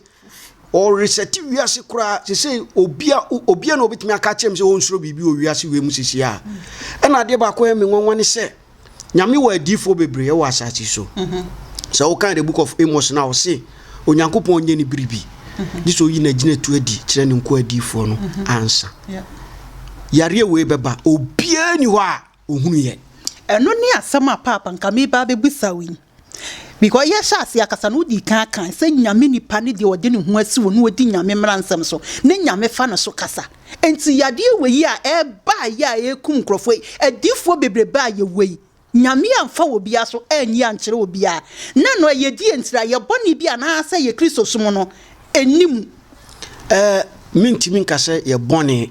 Ɔresɛte wiase koraa sesei obia obia na obetumi aka kyerɛ me sɛ ɔnsuro biribi wɔ wiase wei mu sisi a ɛna adeɛ baako yɛ me nwanwa ne sɛ nyame wɔ adiifoɔ bebree ɛwɔ asase so mhm. sɛ wokan the book of Amos na ɔse onyankopɔn nyɛ ne biribi mhm. gye sɛ oyi n'agyina tu adi kyerɛ ne nko adiifoɔ no mhm. ansa yareɛ wei bɛba obiaa ni hɔ a ɔhunuiɛ. Ɛno ne asɛm a Paapa nka mereba abɛbisa wo yi. Because yɛhyɛ aseɛ akasa no wodii kan kae sɛ Nyame nipa ne deɛ ɔde ne ho asi hɔ na ɔdi Nyame mmaransɛm so ne Nyame fa no so kasa. Enti yadeɛ wei a ɛreba a ɛyɛ a ɛrekum nkurɔfoɔ yi, adiyifoɔ bebrebe a yɛwɔ yi, Nyame amfa obiara so anyi ankyerɛ obiara. Na ɛno ɛyɛ deɛ nti? Ɛyɛ bɔne bi anaasɛ ɛyɛ Kristosom no Ɛnni mu. Ɛɛ, mentumi nka sɛ yɛ bɔne.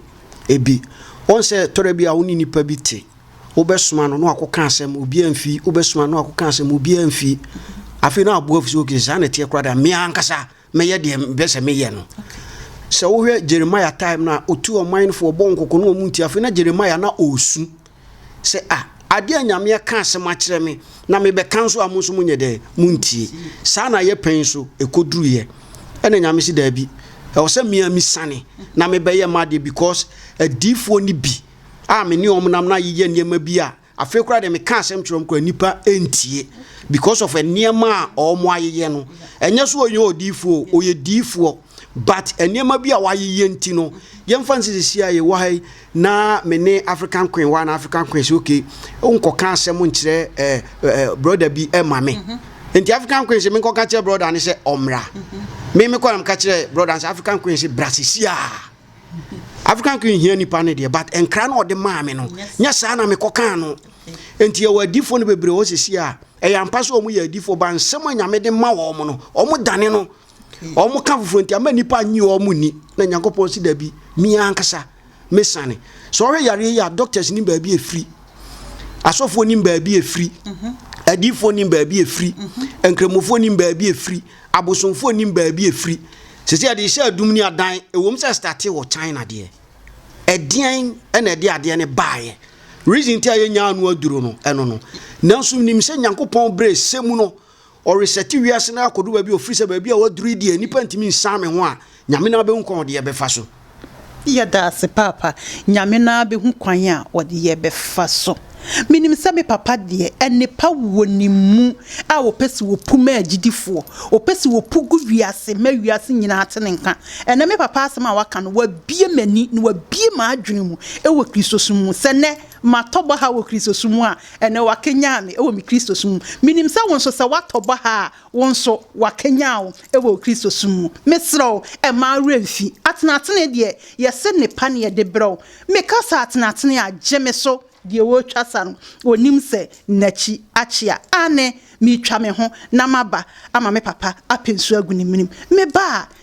Ebi. Wɔn sɛ tɔrɛ bi a wo ne nipa bi te. Wobɛsoma no na wakɔka asɛm, obiara mfi. Wobɛsoma no na wakɔka asɛm, obiara mfi. Afei na wabu afu sɛ, okay, saa na ɛteɛ koraa deɛ, me ankasa mɛyɛ deɛ mepɛ sɛ meyɛ no. Sɛ wohwɛ Jeremiah time no a, ɔtu ɔmanfoɔ, ɔbɔ wɔn kɔkɔ na wɔn nti. Afei na Jeremiah na ɔresu. Sɛ, A, adeɛ a Nyame aka asɛm akyerɛ me, na mebɛka nso a mo nso monyɛ dɛn? Montie. Saa na ayɛ pɛn nso, ɛkɔduruiɛ. Ɛna Nyame se, Daabi, ɛwɔ sɛ me ara mesane na mebɛyɛ m'adeɛ because adiyifoɔ no bi a me ne wɔn nam na yeyɛ nneɛma bi a afei koraa deɛ meka asɛm kyerɛ wɔn koraa nnipa ntie because of nneɛma a wɔayeyɛ no. Ɛnyɛ so ɔnyɛ odiyifoɔ o, ɔyɛ diyifoɔ. but nneɛma bi a wayeyɛ nti no yɛmfa nsi sisi a yɛwɔ ha yi na me ne african queen wa na african queen sɛ okay wonkɔka asɛm nkyerɛ eh, eh, broda bi eh, ma me mm -hmm. nti african queen sɛ menkɔka kyerɛ broda ne sɛ ɔmmra mm -hmm. me mekɔ na meka kyerɛ broda sɛ african queen sɛ bra sisi a african queen hia nipa no deɛ but nkra no ɔde maa me no nyɛ saa na mekɔkaa no nti yɛwɔ adifoɔ no bebree wɔ sisi a ɛyɛ ampa sɛ ɔmo yɛ adifoɔ ba nsɛm a nyame de ma wɔ ɔmo no ɔmo dane no wɔn ka foforɔ nti ama nnipa nye wɔn nni na nyankopɔn si dabi me ankasa me sane sɛ ɔhwɛ yareɛ yi a doctors nim baabi ɛfiri asɔfoɔ nim baabi ɛfiri mhm. adiifoɔ nim baabi ɛfiri mhm. nkramofoɔ nim baabi ɛfiri abosomfoɔ nim baabi ɛfiri sɛ sɛ yɛde hyɛ adum ne adan ɛwom sɛ starte wɔ china deɛ ɛdeɛn ɛna ɛde adeɛ ne baeɛ reason ti a yɛnyaa no aduro no ɛno no nanso nim sɛ nyankopɔn berɛ sɛ mu no ɔresɛte wiase no akɔdu baabi a ɔfiri sɛ baabi a waduru yi deɛ nnipa ntumi nsan me ho a Nyame no ara bɛhu kwan a ɔde yɛ bɛfa so. Yɛda ase paapa. Nyame no ara bɛhu kwan a ɔde yɛ bɛfa so. Menim sɛ me papa deɛ ɛnepa wɔ ne mu a ɔpɛ sɛ ɔpu ma agyidifoɔ. Ɔpɛ sɛ ɔpu gu wiase ma wiase nyinaa te ne nka. Ɛnɛ me papa asɛm a waka no wabue m'ani na wabue m'adwene mu wɔ Kristosom mu sɛ nɛ Matɔ baha wɔ Kristosom mu a, ɛnnɛ wɔakanyan me wɔ me Kristosom mu. Minim sɛ wo nso, sɛ woatɔ baha a, wo nso, wɔakanyan wo wɔ wo Kristosom mu. Mesrɛ wo, mma wo werɛ mfi. Atenatenee deɛ, yɛse nnepa na yɛde brɛ wo. Meka sɛ atenatenee a, gye me so, deɛ ɔretwa sa no, ɔnim sɛ n'akyi akyea. Aane, meretwa me ho na maba ama me papa apɛ nsuo agu ne menem. Meba a,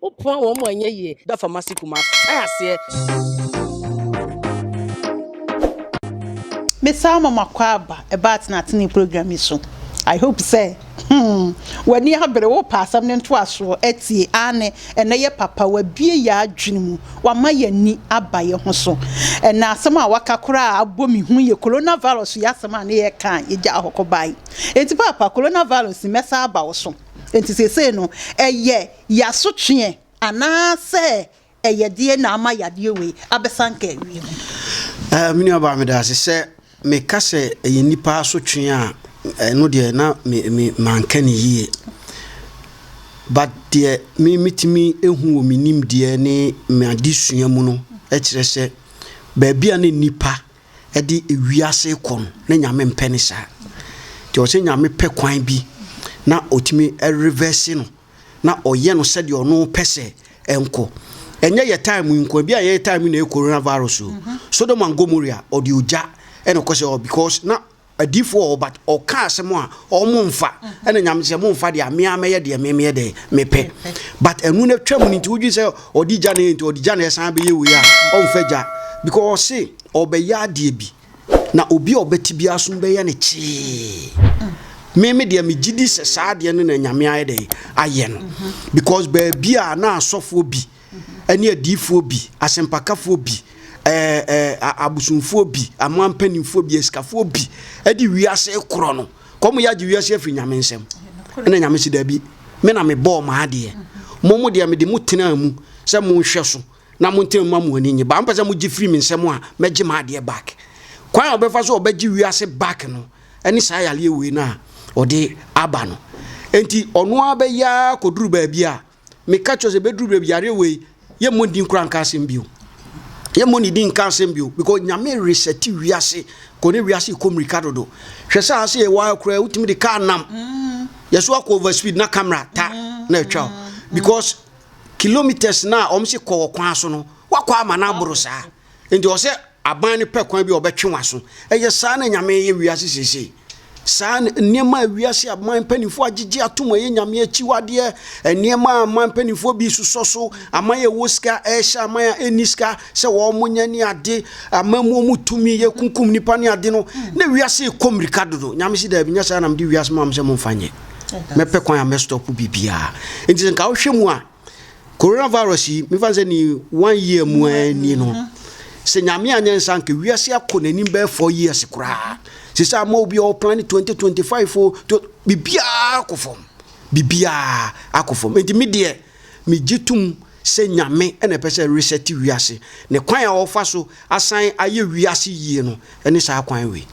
Wo poa wɔn mu a ɛnyɛ yie. Da fam ase Kumasi ae aseɛ. Mesaa mo ma kɔ aba ɛbaa tenatene program yi so I hope sɛ hmm w'ani abere wopɛ asɛm no ntoasoɔ atie aane ɛnɛ yɛ papa w'abue yɛ adwene mu w'ama yɛ ani aba yɛ ho so ɛnɛ asɛm a w'aka koraa abɔ me hu yɛ Corona virus yi asɛm a ne yɛ ka a yɛ gyaa hɔ kɔ bae enti paapa Corona virus yi mɛsa aba wo so enti seesei no ɛyɛ yɛ asotweɛ anaa sɛ ɛyɛ deɛ na ama yadeɛ wei abɛsanka awie mu. Ɛɛ me nuabaa medase sɛ meka sɛ ɛyɛ nipa asotweɛ a ɛno deɛ na me me manka ne yie but deɛ me metumi ehu wɔ me nim deɛ ne m'adesua mu no ɛkyerɛ sɛ baabi a ne nipa ɛde ewiase kɔ no ne nyame mpɛ ne saa deɛ ɔsɛ nyame pɛ kwan bi na otumi ɛrevɛse no. na ɔyɛ no sɛdeɛ ɔno pɛ sɛ ɛnkɔ ɛnyɛ yɛ time yi nko ebi a yɛ time yi na ɛyɛ corona virus o mhm. Sodom and Gomorrah ɔde ogya ɛna ɛkɔ sɛ ɔ because na adiifoɔ a ɔba ɔka asɛm a ɔmo nfa mhm. ɛna nyame sɛ mo nfa deɛ amea mɛyɛ deɛ mɛmɛyɛ deɛ mepɛ but ɛnu no twɛ mu no nti wodwi sɛ ɔde gya na yɛ nti ɔde gya na yɛ san bɛyɛ wei a ɔnfɛ gya because ɔse ɔbɛyɛ adeɛ bi Na obi a ɔbɛte biara som bɛyɛ no kyee. Me me deɛ megye di sɛ saa adeɛ no na Nyame ayɛ dɛ ayɛ no. Mhm. Because baabi a na asɔfoɔ bi ɛne mhm. adiifoɔ bi, asɛmpakafoɔ bi, ɛɛ ɛɛ abosomfoɔ bi, amoa mpanimfoɔ bi, asikafoɔ bi ɛde wiase korɔ no. Kɔm yɛ agye wiase afiri Nyame nsam. Ɛna Nyame si daabi. Me na mebɔɔ maa adeɛ. Mhm. Mo mo deɛ mede mo tenaa mu sɛ monhwɛ so. na mo ntam ma mo ani nye ba mpɛ sɛ mogye firi me nsɛm a mɛgye m'adeɛ back kwan a ɔbɛfa so ɔbɛgye wiase back no ɛne saa yareɛ wei no a ɔde aba no enti ɔno ara bɛyɛ ara kɔduru baabi a meka kyerɛ sɛ bɛduru baabi yareɛ wei yɛmmɔ din kora nka asɛm bio yɛmmɔ ne din nka asɛm bio because nyame resɛte wiase kɔ ne wiase kɔ mmirika dodo hwɛ sɛ ase yɛ waa koraa wotumi de kaa nam mm. yɛso akɔ over speed na camera ta na atwa because kilometres no a wɔn se kɔ wɔ kwan so no wakɔ ama no aboro saa nti ɔsɛ aban no pɛ kwan bi a ɔbɛtwe waso ɛyɛ saa na nyame yɛ wiase seesei saa nneɛma a wiase aman mpanimfoɔ agyegye atom ɛyɛ nyame akyiwadeɛ nneɛma a aman mpanimfoɔ bi susɔ so aman yɛ wɔ sika ɛhyɛ aman a ɛnni sika sɛ wɔn mo nyɛ ne ade aman mu wɔn tumi yɛ kunkum nipa ne ade no na wiase kɔ mmirika dodo nyame si daabi nyɛ saa nam de wiase mu am sɛ mo mfa nyɛ mɛpɛ kwan a mɛ stop biribiara nti nka wohwɛ mu a coronavirus yi mefa sɛ ni one year mu ani no sɛ nyame anyɛ nsa nka wiase akɔ n'anim bɛyɛ four years koraa sɛ sɛ ama obi a ɔplan ne 2025 o biribiara akɔ fam biribiara akɔ fam nti me deɛ Megye tom sɛ Nyame na ɛpɛ sɛ resɛte wiase, ne kwan a ɔfa so asan ayɛ wiase yie no ne saa kwan wei.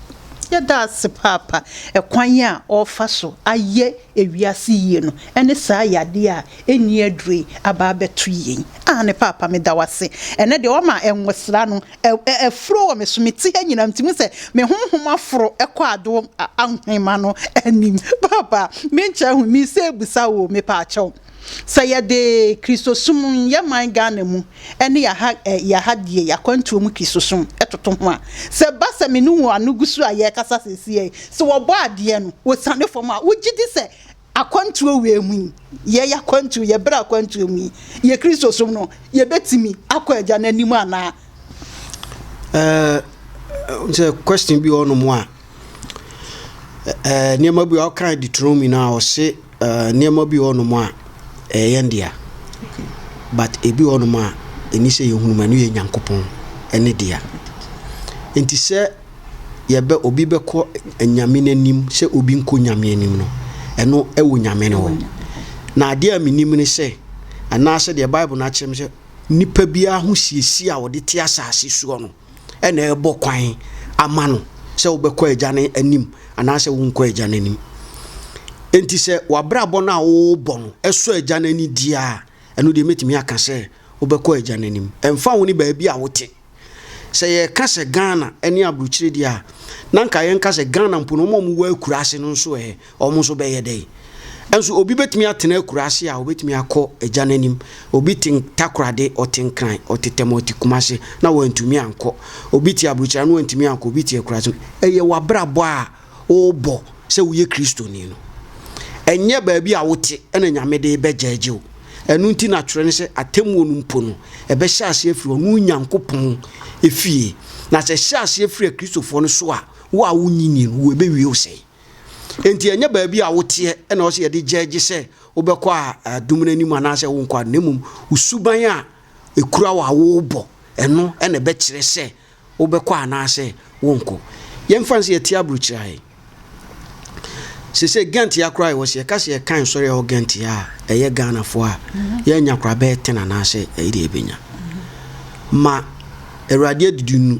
Yɛda ase paapa, ɛkwan a ɔrefa so ayɛ ewiase yie no ne saa yadeɛ a ɛnni aduro yi aba abɛto yɛn. Aane paapa meda wo ase, ɛnɛ deɛ wama nwosra no afuro wɔ me so, me ti ha nyinaa nti hu sɛ me honhom aforo kɔ adom ahoma no anim, paapa menkyɛ ho, misa abusa oo mepaakyɛw. Sɛ yɛde Kristosom yɛ man Ghana mu ne yɛaha yɛaha deɛ yɛakwantuo mu Kristosom toto ho a, sɛ ɛba sɛ me ne wo ano gu so a yɛrekasa seesei, sɛ wɔbɔ adeɛ no wɔsiane fam a, wogye di sɛ akwantuo wei mu yi, yɛn akwantuo, yɛn berɛ akwantuo mu yi, yɛn Kristosom no, yɛbɛtumi akɔ Agya no anim anaa? Uh, sɛ question bi wɔ hɔ nom a, uh, nneɛma bi a ɔkan de turo mu nyinaa ɔse Uh, nneɛma bi wɔ hɔnom a ɛyɛ yɛn dea, but ebi wɔ hɔnom a ɛni sɛ yɛhunu mu ɛno yɛ Nyankopɔn ɛne dea. Nti sɛ yɛbɛ obi bɛkɔ Nyame n'anim sɛ obi nkɔ Nyame anim no, ɛno ɛwɔ Nyame no hɔ. Na adeɛ a menim ne sɛ, anaasɛ deɛ Bible no akyerɛ me sɛ, nipa biara ho siesie a wɔde te asase soɔ no, na ɛrebɔ kwan ama no sɛ wobɛkɔ agya no anim anaasɛ wonkɔ agya no anim. Enti sɛ w'abrabɔ no a worebɔ no ɛsɔ agya no ani di a, ɛno deɛ mɛtumi aka sɛ wobɛkɔ agya no anim. Ɛmfa wo ne baabi a wote. Sɛ yɛka sɛ Ghana ne aburokyire deɛ a, na nka yɛnka sɛ Ghana mpo no wɔn a wɔwɔ akuraase no nso ɛ, Wɔn nso bɛyɛ dɛn? Nso obi bɛtumi atena akuraase a ɔbɛtumi akɔ agya no anim. Obi te Takorade, ɔte Nkran, ɔte Tɛm, ɔte Kumase na wantumi ankɔ. Obi te Aburukyire ano wantumi ankɔ, obi te akuraase. Ɛyɛ w'abrabɔ a worebɔ sɛ woyɛ Kristoni no. Ɛnyɛ baabi a wote na Nyame de rebɛgyɛɛgye wo. Ɛno nti na twerɛ no sɛ atɛmmuo no mpo no, ɛbɛhyɛ aseɛ afiri ɔno Nyankopɔn fie. Na sɛ ɛhyɛ aseɛ firi Akristofoɔ no so a, wo a wonnye nnie no, wo ɛbɛwie wo sɛn? Enti ɛnyɛ baabi a woteɛ na ɔsɛ yɛde gyɛgye sɛ wobɛkɔ a adum no anim anaasɛ wonkɔ a, na mmom wo suban a ekura wo a wobɔ ɛno na ɛbɛkyerɛ sɛ wobɛkɔ anaasɛ wonkɔ. Yɛmfa no sɛ yɛte aburokyiri ayɛ. Sese Ghent ya koraa yɛwɔ sɛ yɛka sɛ yɛkan nsɔre a ɛwɔ Ghent ya a ɛyɛ Ghanafoɔ a yɛanya koraa bɛyɛ ten anaasɛ ɛyɛ deɛ yɛbɛnya. Ma Awurade adidi nu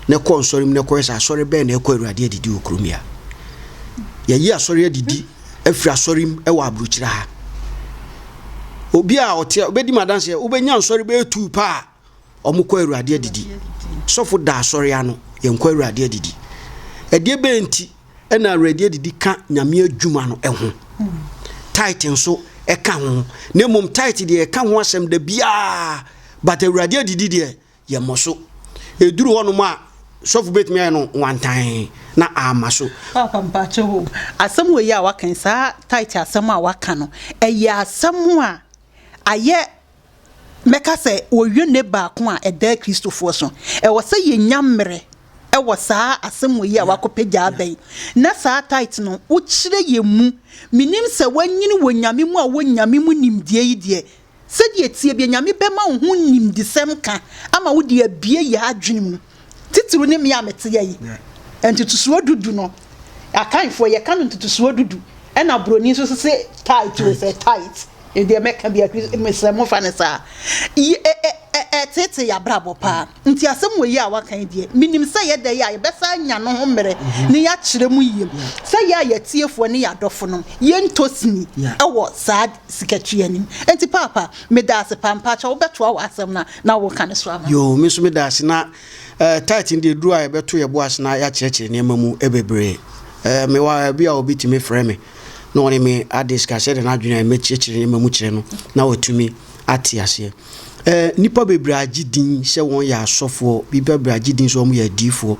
na ɛkɔ nsɔre mu na ɛkɔhwɛ sɛ asɔre bɛn na ɛkɔ Awurade adidi wɔ kurom ya. Yɛyi asɔre adidi afiri asɔre mu wɔ aburokyire ha. Obi a ɔte ɔbɛdi mu adanseɛ wobɛnya nsɔre bɛyɛ tuu pa a wɔkɔ Awurade adidi. Sɔfo da asɔre ano yɛnkɔ Awurade adidi. Ɛdeɛ bɛn nti Ɛna awerɛdeɛ adidi ka Nyame adwuma no ho. Tithe nso ɛka ho. Na mmom tithe deɛ ɛka ho asɛm da biara. But awurade adidi deɛ yɛmmɔ so. Ɛduru hɔnom a sɔfo bɛtumi ayɛ no wantan na ama so. Papa mpakyɛ ho. Asɛm wei a waka yi saa tithe asɛm a waka no ɛyɛ asɛm a ayɛ mɛka sɛ ɔyone baako a ɛdaa Kristofoɔ so. Ɛwɔ sɛ yɛnya mmerɛ wɔ saa asɛmmɔ yi a wɔakɔpagya aba yi, na saa tithe no wokyerɛ yɛn mu. Menim sɛ woanyini wɔ Nyame mu a wowɔ Nyame mu nimdeɛ yi deɛ, sɛdeɛ ɛteɛ biara Nyame bɛma wo ho nimdesɛm ka ama wode abue yɛn adwene mu. titiriw ne me a mete ha yi, ntotosoɔ du du no, akanfoɔ yɛka no ntotosoɔ du du, ɛna buroni nso sɛ tight o sɛ tight deɛ mɛka bi akri mesrɛ mo fa no saa ɛtete yɛ abrabɔ paa nti asɛm wɔ yi a waka yi deɛ menim sɛ yɛda yi a yɛbɛsa nya no ho mmerɛ ne yɛakyerɛ mu yie sɛ yɛ a yɛatiefoɔ ne yɛadɔfo no yɛntɔ sini ɛwɔ saa sika tua nim nti paapa medase paa mpakyɛw wobɛtoa w'asɛm no a na woka no so ama. Yoo me nso medase na eh, tight no deɛ ɛduru a yɛbɛto yɛ bo ase na yɛakyerɛkyerɛ nneɛma mu bebree eh, mewɔ a ebi a obi tumi frɛ me na ɔne me adiska sɛdeɛ n'adwene a mɛkyerɛkyerɛ nneɛma mu kyerɛ no na watumi ate aseɛ eh, nnipa bebree agye din sɛ wɔn yɛ asɔfoɔ nnipa bebree agye din sɛ wɔn yɛ adiifoɔ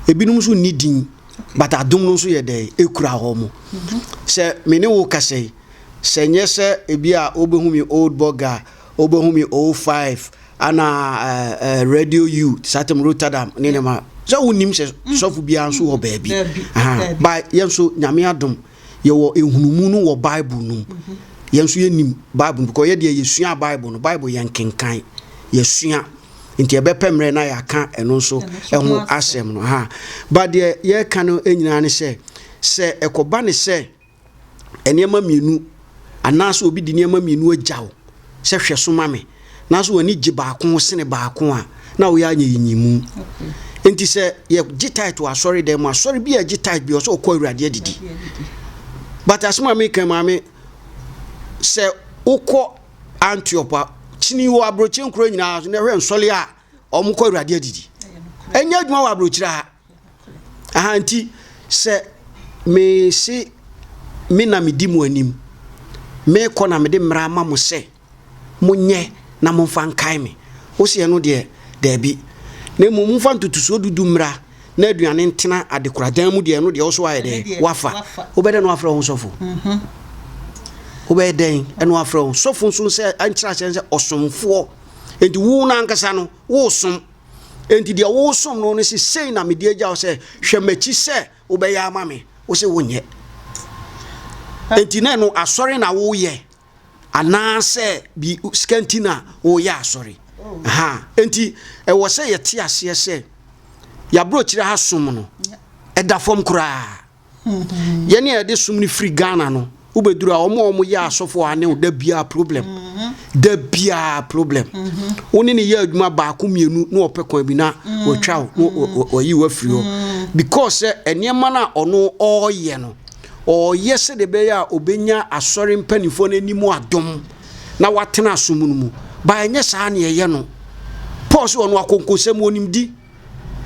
ebinom nso nni din but adom no nso yɛ dɛ ɛkura hɔ mo sɛ me ne wo kasa yi Sɛ nyɛ sɛ ebi a wobehu me old bɔga, wobehu me old five, ana radio u, satem rotadam ne ne ma. Sɛ wonim sɛ mm. sɔfo biara nso wɔ baabi. Ba yɛn nso nyame adom yɛwɔ ehunumu no wɔ Bible no mu. Mhm. Yɛn nso yɛnim Bible no because yɛ deɛ yɛsua Bible no, Bible yɛn kenkan, yɛsua. nti ɛbɛpɛ mmerɛ na yɛaka ɛno nso ɛho asɛm no ha ba deɛ yɛreka no nyinaa ne sɛ sɛ ɛkɔba ne sɛ nneɛma mmienu anaasɛ obi de nneɛma mmienu agya wo sɛ hwɛ so ma me na so w'ani gye baako ho sene baako a na woyɛ anyɛ yi nyimu nti sɛ yɛgye tit wɔ asɔre dɛn mu asɔre bi a ɛgye tit bi ɔsɛ ɔkɔ awurade adidi but asɛm a meka maame sɛ wokɔ antiop a kyini wɔ aburokyire nkuro nyinaa na ɛhwɛ nsɔle a wɔkɔ awurade adidi ɛnyɛ adwuma wɔ aburokyire ha Aha nti sɛ mese me na medi mo anim, mekɔ na mede mmara ama mo sɛ monyɛ na momfa nkae me. Wose ɛno deɛ, daabi. Na mmom momfa ntotosoɔ dudu mmra na aduane ntena adekoradan mu deɛ ɛno deɛ wo so ayɛ dɛn? Wafa. Wobɛyɛ dɛn na wafrɛ wo ho sɔfo? Wobɛyɛ dɛn na wafrɛ wo ho sɔfo nso sɛ nkyerɛ aseɛ ne sɛ ɔsomfoɔ. Enti wo no ankasa no, woresom. Enti deɛ wosom no no se sei na mede agya wo sɛ hwɛ m'akyi sɛ wobɛyɛ ama me wo se wonyɛ enti na ɛno asɔre na woyɛ anaasɛ bi sika nti na woyɛ asɔre ha enti ɛwɔ sɛ yɛte aseɛ sɛ yɛaborɔkyerɛ ha som no ɛda fam koraa yɛne a yɛde som no firi ghana no wobɛduru a wɔn a wɔn yɛ asɔfo a ne da biara problem mm-hmm. da biara problem mm-hmm. wo ne ne yɛ adwuma baako mmienu na ɔpɛ kwan bi na mm-hmm. wɔtwa wo ɔyi wo afiri hɔ because sɛ eh, nneɛma no a ɔno ɔreyɛ no ɔreyɛ sɛdeɛ ɛbɛyɛ a ɔbɛnya asɔre mpanimfoɔ no anim adom na watena asom no mu ba ɛnyɛ saa ne ɛyɛ no paul sɛ ɔno akonkosɛm ɔnimdi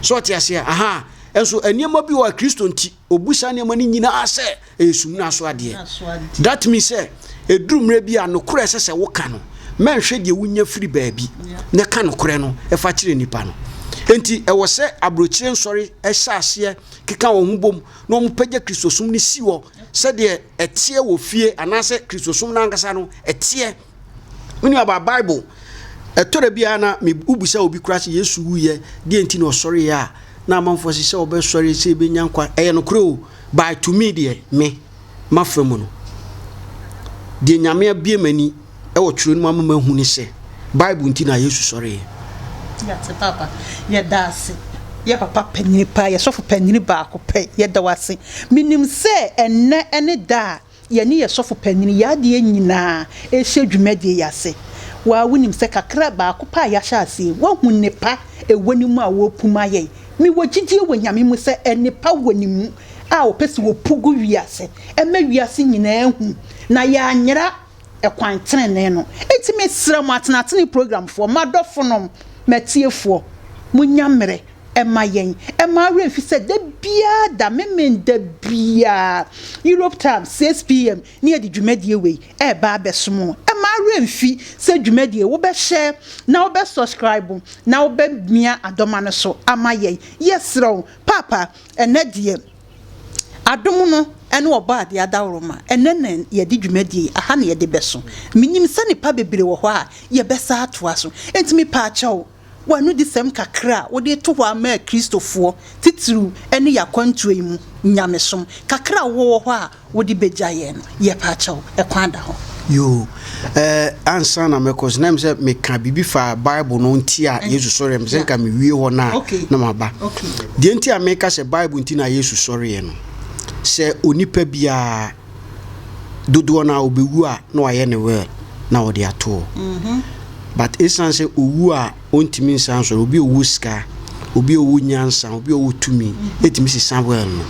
So ɔte aseɛ? Ahaa. Nso nneɛma bi wɔ a Kristo nti, ɔbu saa nneɛma no nyinaa sɛ ɛyɛ sumina so adeɛ. That means sɛ ɛduru mmerɛ bi a nokorɛ ɛsɛ sɛ woka no, mɛnhwɛ deɛ wonya firi baabi na ɛka nokorɛ no ɛfa kyerɛ nnipa no. Enti ɛwɔ sɛ aburokyire nsɔre ɛhyɛ aseɛ keka wɔn ho bom na wɔn pagya Kristosom no si hɔ sɛdeɛ ɛteɛ wɔ fie anaasɛ Kristosom no ankasa no ɛteɛ. Me nuabaa, Bible, ɛtɔ da biara na me wobisa obi koraa sɛ Yesu wuyɛ, deɛ nti na ɔsɔreeɛ a, na amanfoɔ se sɛ ɔbɛsɔre sɛ ɛbɛnya nkwa. Ɛyɛ nokorɛ o, by to me deɛ, me, mafa mu no. Deɛ Nyame abie m'ani ɛwɔ twerɛ no mu ama mahu ne sɛ, Bible nti na Yesu sɔreeɛ. Yɛte papa, yɛda ase. Yɛ papa panyini paa, yɛ sɔfo panyini baako pɛ, yɛda wo ase. Menim sɛ ɛnnɛ ne da a. Yɛne yɛn sɔfo panyin yɛ adeɛ nyinaa rehyɛ dwumadie yi ase. Wo ara wonim sɛ kakra baako pɛ a yɛahyɛ ase yi, woahu nnepa ɛwɔ ne mu a wɔrepu ma yɛn. Mewɔ gyidie wɔ Nyame mu sɛ nnepa wɔ ne mu a ɔpɛ sɛ ɔpu gu wiase ɛma wiase nyinaa hu na yɛanyera ɛkwan tenenee no. Enti mesrɛ mo atenatenee programfoɔ, m'adɔfonom, m'atiefoɔ, monya mmerɛ ɛma yɛn, ɛma wo werɛ fi sɛ da biara da, memen da biara, Europe time 6 PM ne yɛde dwumadie wei ɛreba abɛsom wo. Ɛma wo werɛ mfi sɛ dwumadie wo bɛ share, na wo bɛ subscribe, na wo bɛ mia adɔma no so ama yɛn. Yɛsrɛ wo, Paapa, ɛnnɛ deɛ adom no ɛne ɔbɔ adeɛ adaworoma, ɛnnɛ na yɛde dwumadie yi, aha na yɛde bɛso. Menim sɛ nnipa bebree wɔ hɔ a yɛbɛsa atoa so, enti mepaakyɛw, w'anodisɛm kakra a wode reto hɔ ara maa Kristofoɔ, titiriw ɛne yɛn akwantuo yi mu nyamesom kakra a wowɔ wɔ hɔ a wode bɛgya yɛn no, yɛpa kyɛw, ɛkwan da hɔ. Yoo. Ɛɛ, ansa na mɛkɔ so, na ɛm sɛ meka biribi fa Bible no nti a Yesu sɔreɛ, mepɛ sɛ nka mewie hɔ no a na maba. Deɛ nti a meka sɛ Bible nti na Yesu sɔreɛ no, sɛ onipa biara, dodoɔ no a ɔbɛwu a na wayɛ ne will na wɔde ato hɔ mhm. but ɛsiane sɛ ɔwu a ɔntumi nsan sɔrɔ obi ɔwɔ sika obi ɔwɔ nyansa obi ɔwɔ tumi ɛtumi sesa will no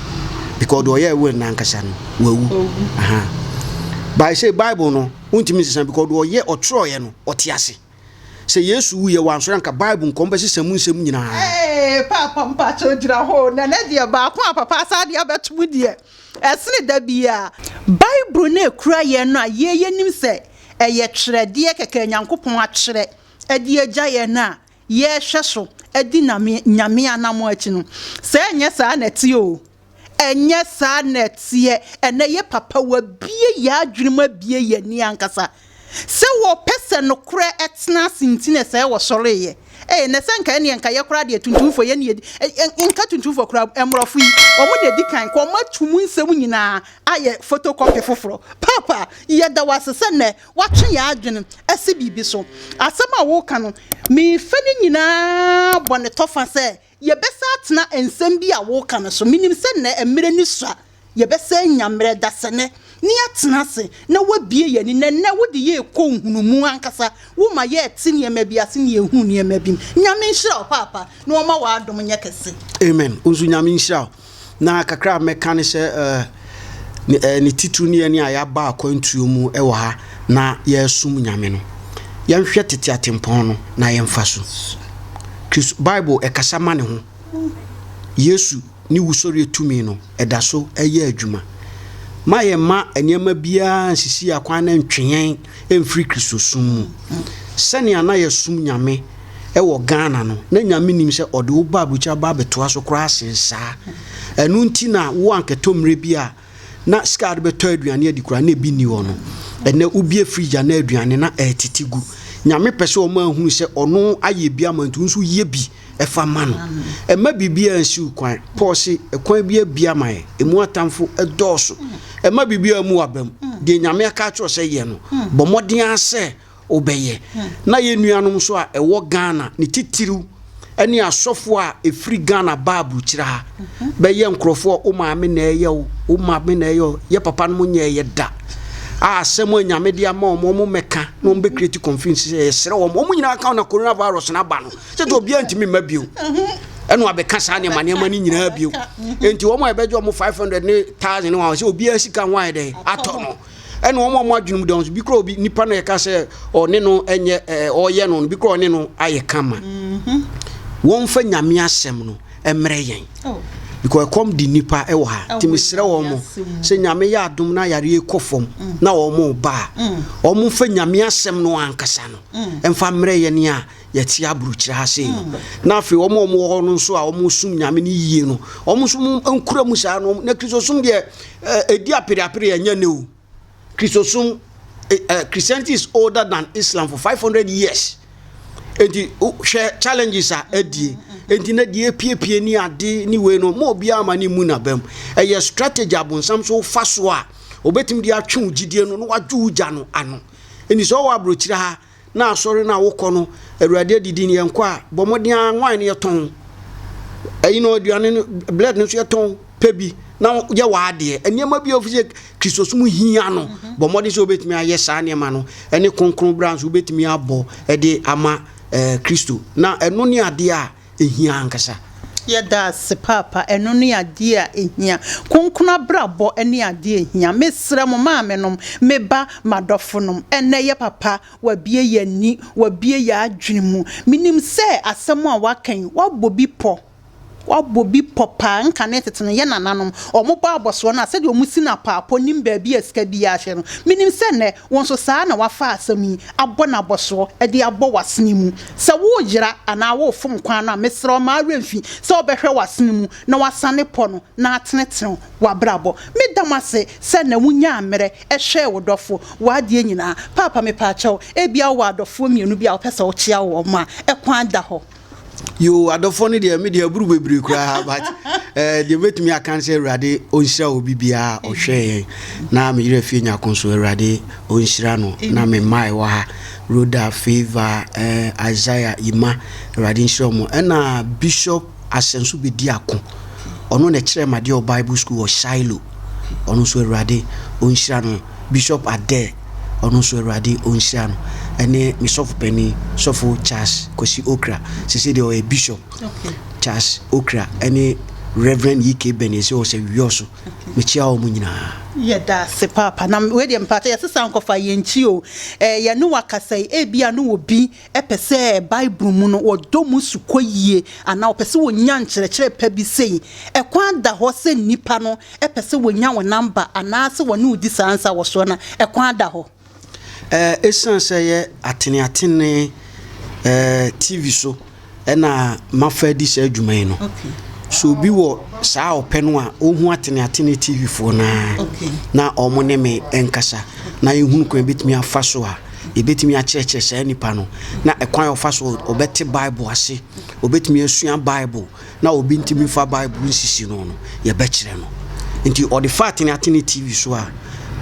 because deɛ ɔyɛ will no ankasa no wawu by sɛ bible no wontumi nsesa because deɛ ɔyɛ ɔtwerɛeɛ no ɔte ase sɛ yesu wuyɛ wansɔre anka bible nkɔm bɛsesa mu nsɛm nyinaa paapa mpakyɛ gyina hɔ na ne deɛ baako a papa saa deɛ abɛtom deɛ Ɛsene da biara, Bible no a ɛkura yɛn no a yei yɛnim sɛ ɛyɛ twerɛdeɛ kɛkɛ a Nyankopɔn atwerɛ de agya yɛn no a yɛrehwɛ so adi Nyame anammɔn akyi no, sɛ ɛnyɛ saa na ɛteɛ oo, ɛnyɛ saa na ɛteɛ, ɛnɛ yɛ papa, wɔabue yɛn adwene mu abue yɛn ani ankasa. Sɛ wɔpɛ sɛ nokorɛ tena ase nti na ɛsɛ wɔsɔreeɛ. Ei, na sɛ nka ɛnneɛ nka yɛ koraa deɛ tuntumfoɔ, yɛn ne yɛdi, nka tuntumfoɔ koraa, mmorɔfo yi, wɔn na ɛdi kan, nka wɔatu mo nsɛm nyinaa ayɛ photocopy foforɔ. Paapa, yɛda wo ase sɛ nnɛ woatwe yɛn adwene asi biribi so. Asɛm a woreka no, mefa ne nyinaa bɔ ne tɔfa sɛ Yɛbɛsan atena nsɛm bi a woreka no so. Minim sɛ nnɛ mmere no sua. Yɛbɛsan anya mmere, dasani, na yɛatena ase na woabue yɛn ani. Na nnɛ wode yɛn rekɔ nhunumu ankasa. Woma yɛte nneɛma bi ase na yehu nneɛma bi mu. Nyame nhyira wo, Paapa, na ɔmma w'adom nyɛ kɛse. Amen. Wo nso Nyame nhyira wo. Na kakra a mɛka ne sɛ ɛɛ ne titiriw ne yɛn a yɛaba akwantuo mu wɔ ha na yɛresom Nyame no. Yɛnhwɛ tete atempɔn no na yɛmfa so. Kristo Bible ɛkasa ma ne ho. Yesu ne wusɔreɛ tumi no ɛda so ɛyɛ adwuma. Ma yɛmma nneɛma biara nsisi yɛn akwan na ɛntwe yɛn mfiri Kristosom mu. Sɛnea na yɛsom Nyame wɔ Ghana no, na Nyame nim sɛ ɔde wo ba aburukyiri aba abɛtoa so koraa sen saa. Ɛno nti na wo ankɛtɔ mmerɛ bi a na sika a wode bɛtɔ aduane adi koraa na ebi nni hɔ no. Ɛnnɛ wobue fridge a na aduane na ɛretete gu. Nyame pɛ sɛ ɔma ahunu sɛ ɔno ayɛ bi ama nti wo nso yɛ bi. Fa ma no. Mma biribiara nsi wo kwan. Paul se, Ɛkwan bi abue ama yɛn, emu atamfo dɔɔso. Mma biribiara mmu w'abam. Deɛ Nyame aka akyerɛ wo sɛ yɛ no, bɔ mmɔden ara sɛ wobɛyɛ. Na yɛn nuanom nso a ɛwɔ Ghana, ne titiriw ne asɔfo a ɛfiri Ghana baa aburukyire ha bɛyɛ nkurɔfoɔ a wo maame na ɛyɛ wo, wo maame na ɛyɛ wo, yɛ papanom nyɛeɛ da a asɛm a Nyame de ama wɔn, wɔmmɛka na wɔmbɛcreate confusion sɛ yɛsrɛ wɔn. Wɔn nyinaa ka wo na coronavirus no aba no. kyɛ sɛ obiara ntumi mma bio ɛna wabɛka saa nneɛma nneɛma no nyinaa bio nti wɔn a yɛbɛgye wɔn five hundred ne thousand wɔn sɛ obiara sika ho ayɛ dɛ atɔ no ɛna wɔn a wɔn adwene mu dɔn so bi kura obi nipa na yɛka sɛ ɔne no ɛnyɛ ɛɛ ɔyɛ no bi kura ɔne no ayɛ kama mhm. wɔn fɛ nyame asɛm no ɛmmerɛ yɛn oh. because ɛkɔm di nipa ɛwɔ ha oh, tìmi srɛ wɔn mo sɛ nyame yɛ adum na yareɛ kɔ fam mm. na wɔn ba mm. wɔn fɛ nyame asɛm no ankasa no ɛnfa mm. mmerɛ yɛn ni a. yɛte aburokyire ha sei no na afei wɔn a wɔwɔ hɔ no nso a wɔsom nyame no yie no wɔn nso nkura mu saa no na kristosom deɛ ɛdi apereapere ɛnyɛ ne o kristosom christianity is older than islam for five hundred years nti hwɛ challenges a adie nti na deɛ epiepie ne ade ne wei no mo obiara ma ne mu nabam ɛyɛ strategy abonsam so fa so a obetumi de atwe wo gyidie no na wadwo wo gya no ano ɛni sɛ ɔwɔ aburokyire ha na asɔre no a wokɔ no, Awurade adidi no yɛnkɔ a, bɔ mmɔden ara wine no yɛtɔn. Ɛyi no aduane no blood no nso yɛtɔn pɛ bi na yɛ w'adeɛ. Nneɛma bi a ofi sɛ Kristosom hia no, mhm. bɔ mmɔden sɛ wobɛtumi ayɛ saa nneɛma no ɛne kronkron bra nso wobɛtumi abɔ ɛde ama ɛɛ Kristo. Na ɛno ne adeɛ a ɛhia ankasa. Yɛda ase paapa ɛno ne adeɛ a ɛhia. Kronkron abrabɔ ne adeɛ a ɛhia. Mesrɛ mo maame nom, me ba, m'adɔfo nom, ɛnnɛ yɛ papa, wabue yɛn ani, wabue yɛn adwene mu. Menim sɛ asɛm a waka yi, wabɔ bi pɔ, wabɔ bi pɔ paa. Nkane tete no, yɛn nananom, wɔbɔ abɔsoɔ no a, sɛdeɛ wɔsi no apaapɔ, nim baabi a sika biara hyɛ no. Menim sɛ nnɛ, Wo nso saa ara na wɔafa asɛm yi abɔ no abɔsoɔ de abɔ w'asene mu. Sɛ woreyera anaa worefom kwan no a, mesrɛ wo, mma wo werɛ mfi sɛ wobɛhwɛ w'asene mu na woasane pɔ no na atenetene w'abrabɔ. Meda mo ase sɛ nnɛ wonyaa mmerɛ hwɛɛ wo dɔfo wɔ adeɛ nyinaa. Paapa, mepaakyɛw, ebia wowɔ adɔfoɔ mmienu bi a wopɛ sɛ wokyea wɔn a, ɛkwan da hɔ. Yoo adɔfoɔ no deɛ me deɛ aburu bebree koraa but ɛɛ eh, deɛ mɛtumi aka sɛ awurade ɔnhyira obi biara ɔhwɛ yɛn na me yerɛ fie nyako nso awurade ɔnhyira no na me mmaa ɛwɔ ha roda favor ɛɛ eh, isaiah ima awurade nhyira wɔn ɛna bishop asɛnso bɛdi ako ɔno na ɛkyerɛ ma deɛ ɔ bible school wɔ shiloh ɔno nso awurade ɔnhyira no bishop adɛ ɔno nso Awurade ɔnhyira no, ɛne me sɔfo panin, sɔfo Charles Kwasi Okra, sese deɛ ɔyɛ bishop, Charles Okra, ɛne Reverend E.K. Bɛne sɛ ɔsɛ wiɔ so, mekyia wɔn nyinaa. Yɛda ase paapa, na wei deɛ mpakyɛ yɛsesa nkɔfa yɛn nkyi o, eh, yɛne wakasa yi, ebi a ne wɔ bi pɛ sɛ Bible mu no wɔdɔ mu su kɔ yie anaa wɔpɛ sɛ wɔnya nkyerɛkyerɛ pa bi sei, ɛkwan da hɔ sɛ nnipa no pɛ sɛ wɔnya wo namba anaa sɛ wɔne wo di saa nsa wɔ soɔ no, ɛkwan da hɔ. Ɛsiane sɛ ɛyɛ ateneatenee TV so na mafa adi saa adwuma yi no. So obi wɔ saa ɔpɛ no a ɔhu Atene Atene TV foɔ no ara na wɔn ne me nkasa na yɛhunu kwan bɛtumi afa so a yɛbɛtumi akyerɛkyerɛ saa nipa no na ɛkwan a ɔfa so ɔbɛte Bible ase, ɔbɛtumi asua Bible na obi ntumi fa Bible nsisi no no yɛbɛkyerɛ no. Nti ɔde fa Atene Atene TV so a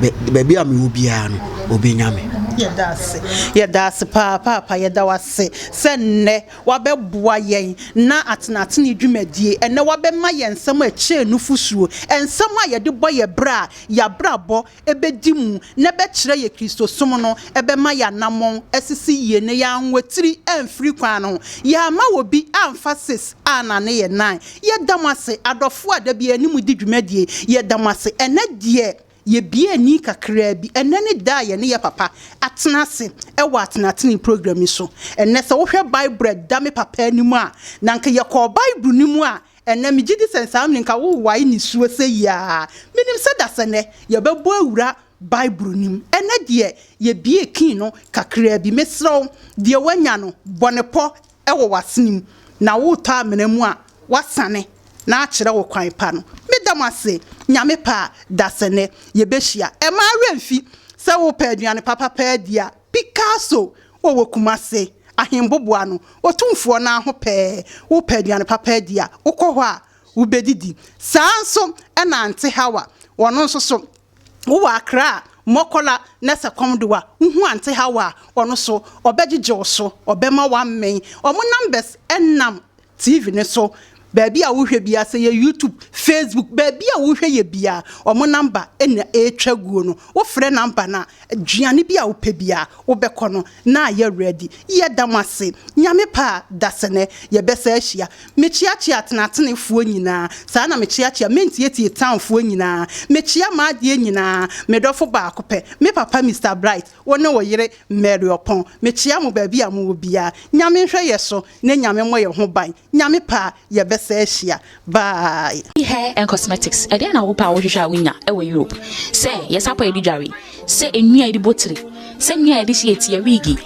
baabi a mewɔ biara no ɔbɛnya me. Yɛda ase yɛda ase paa paapa yɛda wase sɛ nnɛ wabɛboa yɛn na atenatene dwumadie, ɛnnɛ wabɛma yɛn nsɛm a ɛkyɛɛ nufosuo, nsɛm a yɛde bɔ yɛn bra a y'abrabɔ bɛdi mu na ɛbɛkyerɛ yɛn Kristosom no, ɛbɛma y'anamɔn asisi yie na y'anwatiri amfiri kwan no ho. Y'amma obi amfa ses annane yɛn nan. Yɛda mo ase adɔfoɔ a da biara yɛne mo di dwumadie. Yɛda mo ase ɛnnɛ deɛ Yɛbue ani kakraa bi. Ɛnnɛ ne da a yɛne yɛn papa atena ase wɔ atenatene program yi so. Ɛnnɛ sɛ wohwɛ Bible a ɛda me papa anim a, na anka yɛkɔɔ Bible no mu a, ɛnnɛ megye di sɛ nsaa mene nka wowae nisuo sɛyi ara. Menim sɛ dasɛnnɛ yɛbɛbɔ awura Bible no mu. Ɛnnɛ deɛ yɛbue kin no kakraa bi. Mesrɛ wo, deɛ woanya no, bɔ no pɔ. wɔ w'asene mu na woretɔ amena mu a, woasane na akyerɛ wo kwan pa no. Meda mo ase. Nyame pɛ a, dasɛnnɛ yɛbɛhyia. Ɛmma wo werɛ mfi sɛ wopɛ aduane papa pɛ adi a, Picasso wɔ wɔ Kumase, Ahenboboa no, Otumfoɔ no ara ho pɛɛ. Wopɛ aduane papa adi a, wokɔ hɔ a, wobɛdidi. Saa ara nso na Aunty Hawa, ɔno nso so, Wo wɔ akra a, mɔkɔla na sɛ kɔm de wo a, wo ho ante ha wo a, ɔno so, ɔbɛgyegye wo so, ɔbɛma woammen. Wɔn numbers nam TV no so, baabi a wohwɛ biara, sɛ yɛ YouTube, Facebook, baabi a wohwɛ yɛ biara, wɔn number na ɛretwa guo no. Wofrɛ number no a, Aduane bi a wopɛ biara wobɛkɔ no na ayɛ ready. Yɛda mo ase. Nyame pɛ a dasɛnɛ yɛbɛsa ahyia. Mekyeakyea tenatenefoɔ nyinaa. Saa na mekyeakyea mentietie tanfoɔ nyinaa. Mekyea m'adeɛ nyinaa. Me dɔfo baako pɛ. Me papa Mister Bright, wo ne wo yere Mary Ɔpɔn. Mekyea mo baabi a mowɔ biara. Nyame nhwɛ yɛ so na Nyame mmɔ yɛ ho ban. Nyame pɛ a yɛbɛsa ahyia bye. Hair and cosmetics ɛdeɛn na wopɛ a wohwehwɛ a wonya ɛwɔ Europe sɛ yɛ sapa yɛde dware sɛ nnua yɛde bɔ tiri sɛ nnua yɛde hye yɛ ti yɛ wiigi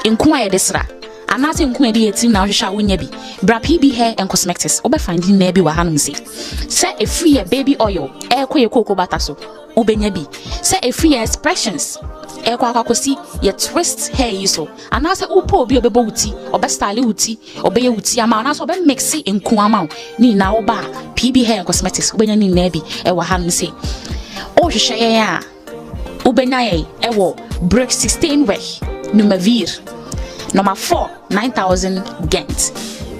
nko a yɛde sra anaasɛ nko a yɛde yɛ tirim na wohwehwɛ a wonya bi bra PB hair and cosmetics wobɛ find nnua bi wɔ hanom sei sɛ ɛfiri yɛ baby oil ɛɛkɔ yɛ kooko bata so wobɛnya bi sɛ ɛfiri yɛ expressions ɛɛkɔ akɔ akɔsi yɛ twist hair yi so anaasɛ wopɛ obi a ɔbɛbɔ wo ti ɔbɛ style wo ti Ɔbɛyɛ wo ti ama wo anaasɛ ɔbɛ mixe nku ama wo ne nyinaa wo ba PB Hair and Cosmetics wobɛnya ne nyinaa bi ɛwɔ ha nom se wohwehwɛ yɛn a wobɛnya yɛn ɛwɔ Brick 16 Wech Numavir number 4 9000 Gent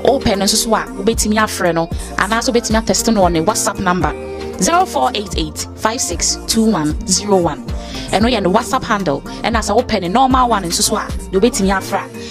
wopɛ no nso so a wobɛtumi afrɛ no anaasɛ wobɛtumi atɛste no wɔ ne WhatsApp number 0488 562101 ɛno yɛ ne WhatsApp handle ɛna sɛ wopɛ ne normal one nso so a deɛ wobɛtumi afra